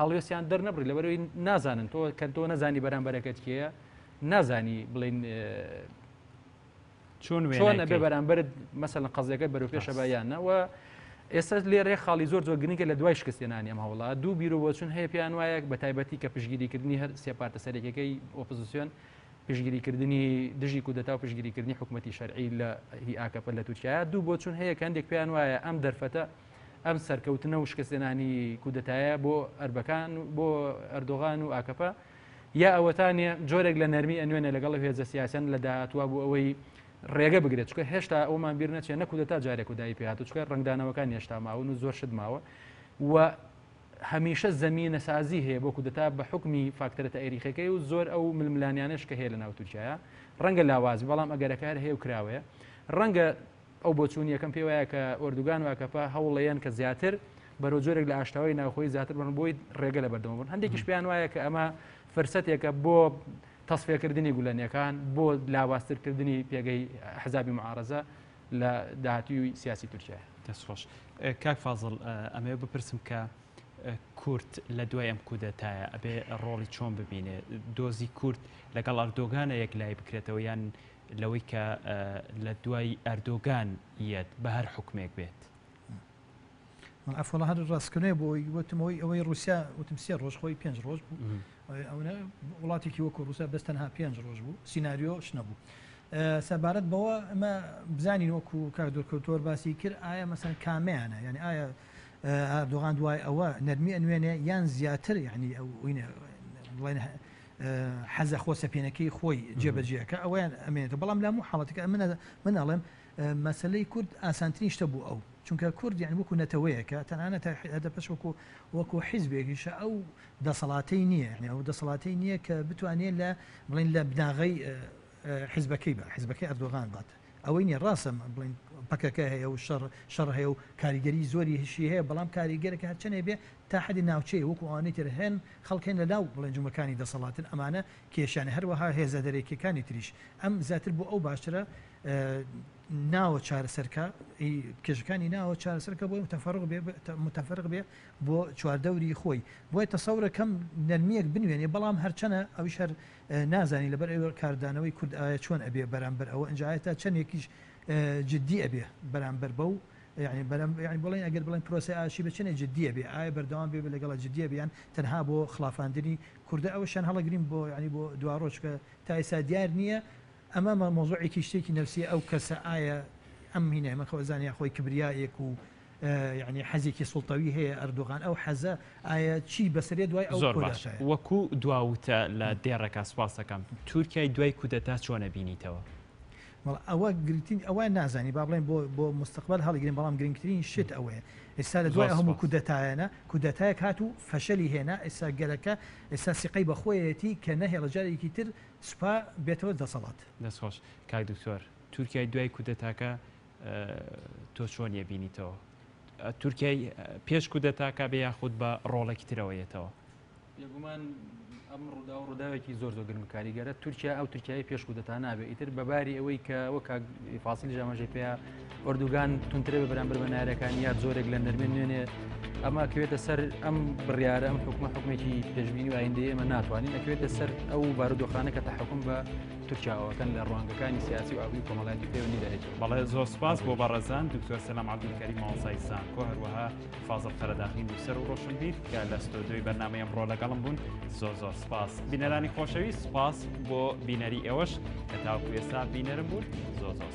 هەڵوێستیان دەرنەبڕی لەبەرەوەی نازانن تۆ کە تۆ نەزانی بەرامبەرەکەت کێە نازانی بڵین چۆن وێنە بێ بەرامبرت مەسەن قەزیەکە بەرو پێشە بایانەوە ئێستا لێرێ خاڵی زۆر زۆر گرنگە لە دوای شکستێنانی ئەم هەوڵا دوو بیرو بۆچون هەیە پێیان وایە بە تایبەتی کە پشگیریکردنی هەر سێپارتە سەرێکەکەی ئۆپزیسیۆن پشگیریکردنی دژی کودەتا و پشگیریکردنی حکوومەتتی شەرعی لە هی ئاکەپە لە تورکیا دوو بۆچون هەیە کە هەندێک پێیان وایە ئەم دەرفەتە ئەم سەرکەوتنە و شکستێنانی کودەتایە بۆ ئەربەکان بۆ ئەردۆغان و ئاکەپە یا ئەوەتانە جۆرێک لە نەرمی ئەنوێنە لەگەڵ هێزە سیاسەن لە داهاتوە بۆ ئەوەی ڕێگە بگرێت چکە هێشتا ئەومان بیر نەچێت نەکوودە تا جارێک و دای پێات چکە ڕنگدانەوەکان هێشتا ماون و زۆر شت ماوە و هەمیشە زمینە سازی هەیە بۆ کودەتا بە حکمی فاکتەرە تاریخەکەی و زۆر ئەو ململانیانش کە هەیە لە ناو تورکایە ڕەنگە لاواز بەڵام ئەگەرەکار هەیە و کراوەیە ڕەنگە ئەو بۆچوونیەکەم پێ وایە کە ئۆردوگان و ئاکەپە هەوڵەیەن کە زیاتر بەرەو جۆرێک لە ئاشتەوای ناوخۆی زیاتر بن بۆی ڕێگە لە بەردەوە بن هەندێکیش پێیان وایە کە ئەمە فرسەتێکە بۆ تەسفێکردنی گولەنەکان بۆ لاواسترکردنی پێگەی حزابی معارزە لە داهاتوی سیاسی تورکیا دەستخۆش کاک فازل ئەمێ بپرسم کە کورت لە دوای ئەم کودەتایە ئەبێ ڕۆڵی چۆن ببینێ دۆزی کورت لەگەڵ ئەردۆگانە یەک لای بکرێتەوە یان لەوەی کە لە دوای ئەردۆگان یەت بە هەر حکومێک بێت. ئەفۆڵە هەر ڕاستکردنێ بۆ ئەوی وتمەوەی ئەوەی رووسیا وتم سێ ڕۆژ خۆی پێنج ڕۆژ بوو ئەوە وڵاتێکی وەکو ڕوسە بەس تەنها پێنج ڕۆژ بوو سینناریۆ شنەبوو. سەبارەت بەوە ئەمە بزانین وەکو کار دۆرکەوتۆر باسی کرد ئایا مەسەن کامیانە یعنی ئایا ئەردۆغان دوای ئەوە نەرمی ئەنوێنێ یان زیاتر یعنی ئەو بڵێن حەزە خۆ سەپێنەکەی خۆی جێ بەجێ کە ئەویان ئەمێنێتە بەڵام لامو حاڵەتەکە ئەمنە من ئەڵێم مەسلەی کورد ئاسانترین شتە بوو ئەو چونکە کورد یان وەکو نەتەوەیەکە تەنانە تا حدە پەش وەکو وەکو حیزبێکیشە ئەو دەسەڵاتی نییە ئەو دەسەڵاتی نییە کە بتوانێت لە بڵین لە بناغی حیزبەکەی بە حیزبەکەی ئەردۆغان بات ئەوەی نیە ڕاستە بڵین پەکەکە هەیە و شەڕ شەڕ هەیە و کاریگەری زۆری هشی هەیە بەڵام کاریگەرەکە هەرچەنێ بێ تا حدی ناوچەیە وەکو ئەوانەی تر هەن خەڵکێن لە لاو بڵێن جومگەکانی دەسەڵاتن ئەمانە کێشیانە هەروەها هێزە دەرەکیەکانی تریش ئەم زیاتر بۆ ئەو باشترە ناوە چارەسەرکە کێشەکانی ناوە چارەسەرکە بۆی متفرق بێ متفرق بێ بۆ چواردەوری خۆی بۆی تەسەورەکەم نەرمیەک بنوێنێ بەڵام هەرچەنە ئەوش هەر نازانین لەبەر ئەوێ کاردانەوەی کورد ئایە چۆن ئەبێ بەرامبەر ئەوە ئنجا ئایە تا چەنێکیش جدی ئەبێ بەرامبەر بەو یعنی بەرامبەر یعنی بڵێن ئەگەر بڵێن پرۆسەی ئاشتی بە چەنێ جدی ئەبێ ئایە بەردەوام بێ لەگەڵە جدی ئەبێ یان تەنها بۆ خڵافاندنی کوردە ئەوەشیان هەڵەگرین بۆ یعنی بۆ دواڕۆژ چونکە تا ئێستا دیار نییە ئەمە مەوزوعێکی شتێکی نەفسیە ئەو کەسە ئایە ئەم مینای مەخۆزانە یان خۆی کبریایەک و یەعنی حەزێکی سوڵتەوی هەیە ئەردۆغان ئەو حەزە ئایا چی بەسەرێ دوای ئەو زۆر باش کودەتایە؟ وەکو دوا وتە لە دێڕەکە سپاست دەکەم تورکیای دوای کودەتا چۆن ئەبینیتەوە؟ وەڵا ئەوە گرنگترین ئەوە نازانین با بڵێین بۆ بۆ مستقبل هەڵیگرین بەڵام گرنگترین شت ئەوەیە ئێستا لە دوای زۆر ئەو هەموو سپاس کودەتایانە کودەتایەک هات و فەشەلی هێنا ئێستا گەلەکە ئێستا سیقەی بە خۆیەتی کە نەهێڵێ جارێکی تر سوپا بێتەوە دەسەڵات. دەست خۆش کاک دکتۆر تورکیای دوای کودەتاکە تۆ چۆن یە بینیتەوە تورکیای پێش کودەتاکە بێ یاخود بە ڕۆڵێکی ترەوە یەتەوە بێگومان ئەم ڕوودا و ڕووداوێکی زۆر زۆر گرم کاریگەرە تورکیا ئەو تورکیای پێش کودەتا نابێت ئیتر بەباری ئەوەی کە وەک فاسیلی ژامەژێ پێ ئۆردوگان تونترە بە بەرامبەر بە نارەکان یا زۆرێک لە نەرمێن نوێنێ ئەمە کەوێتە سەر ئەم بڕیارە ئەم حکومە حکومێکی پێشببینی و ئایندەیە ئەمە ناتوانین ئەکوێتە سەر ئەو بارودۆخانە کە تە حکوم بە تورکیا ئەوەکەن لە ڕوانگەکانی سیاسی و ئابووری کۆمەڵایەتی پەیوەندی دەهێت بەڵێ زۆر سپاس بۆ بەڕێزان دکتۆر سەلام عەبدولکەریم مامۆستای زانکۆ هەروەها فازڵ قەرەداغی نووسەر و ڕۆشنبیر کە لە ستۆدیۆی بەرنامەی ئەمڕۆ لەگەڵم بوون زۆر زۆر سپاس بینەرانی خۆشەوی سپاس بۆ بینەری ئێوەش کە تاوکو ئێستا بینەرم بوون زۆر زۆر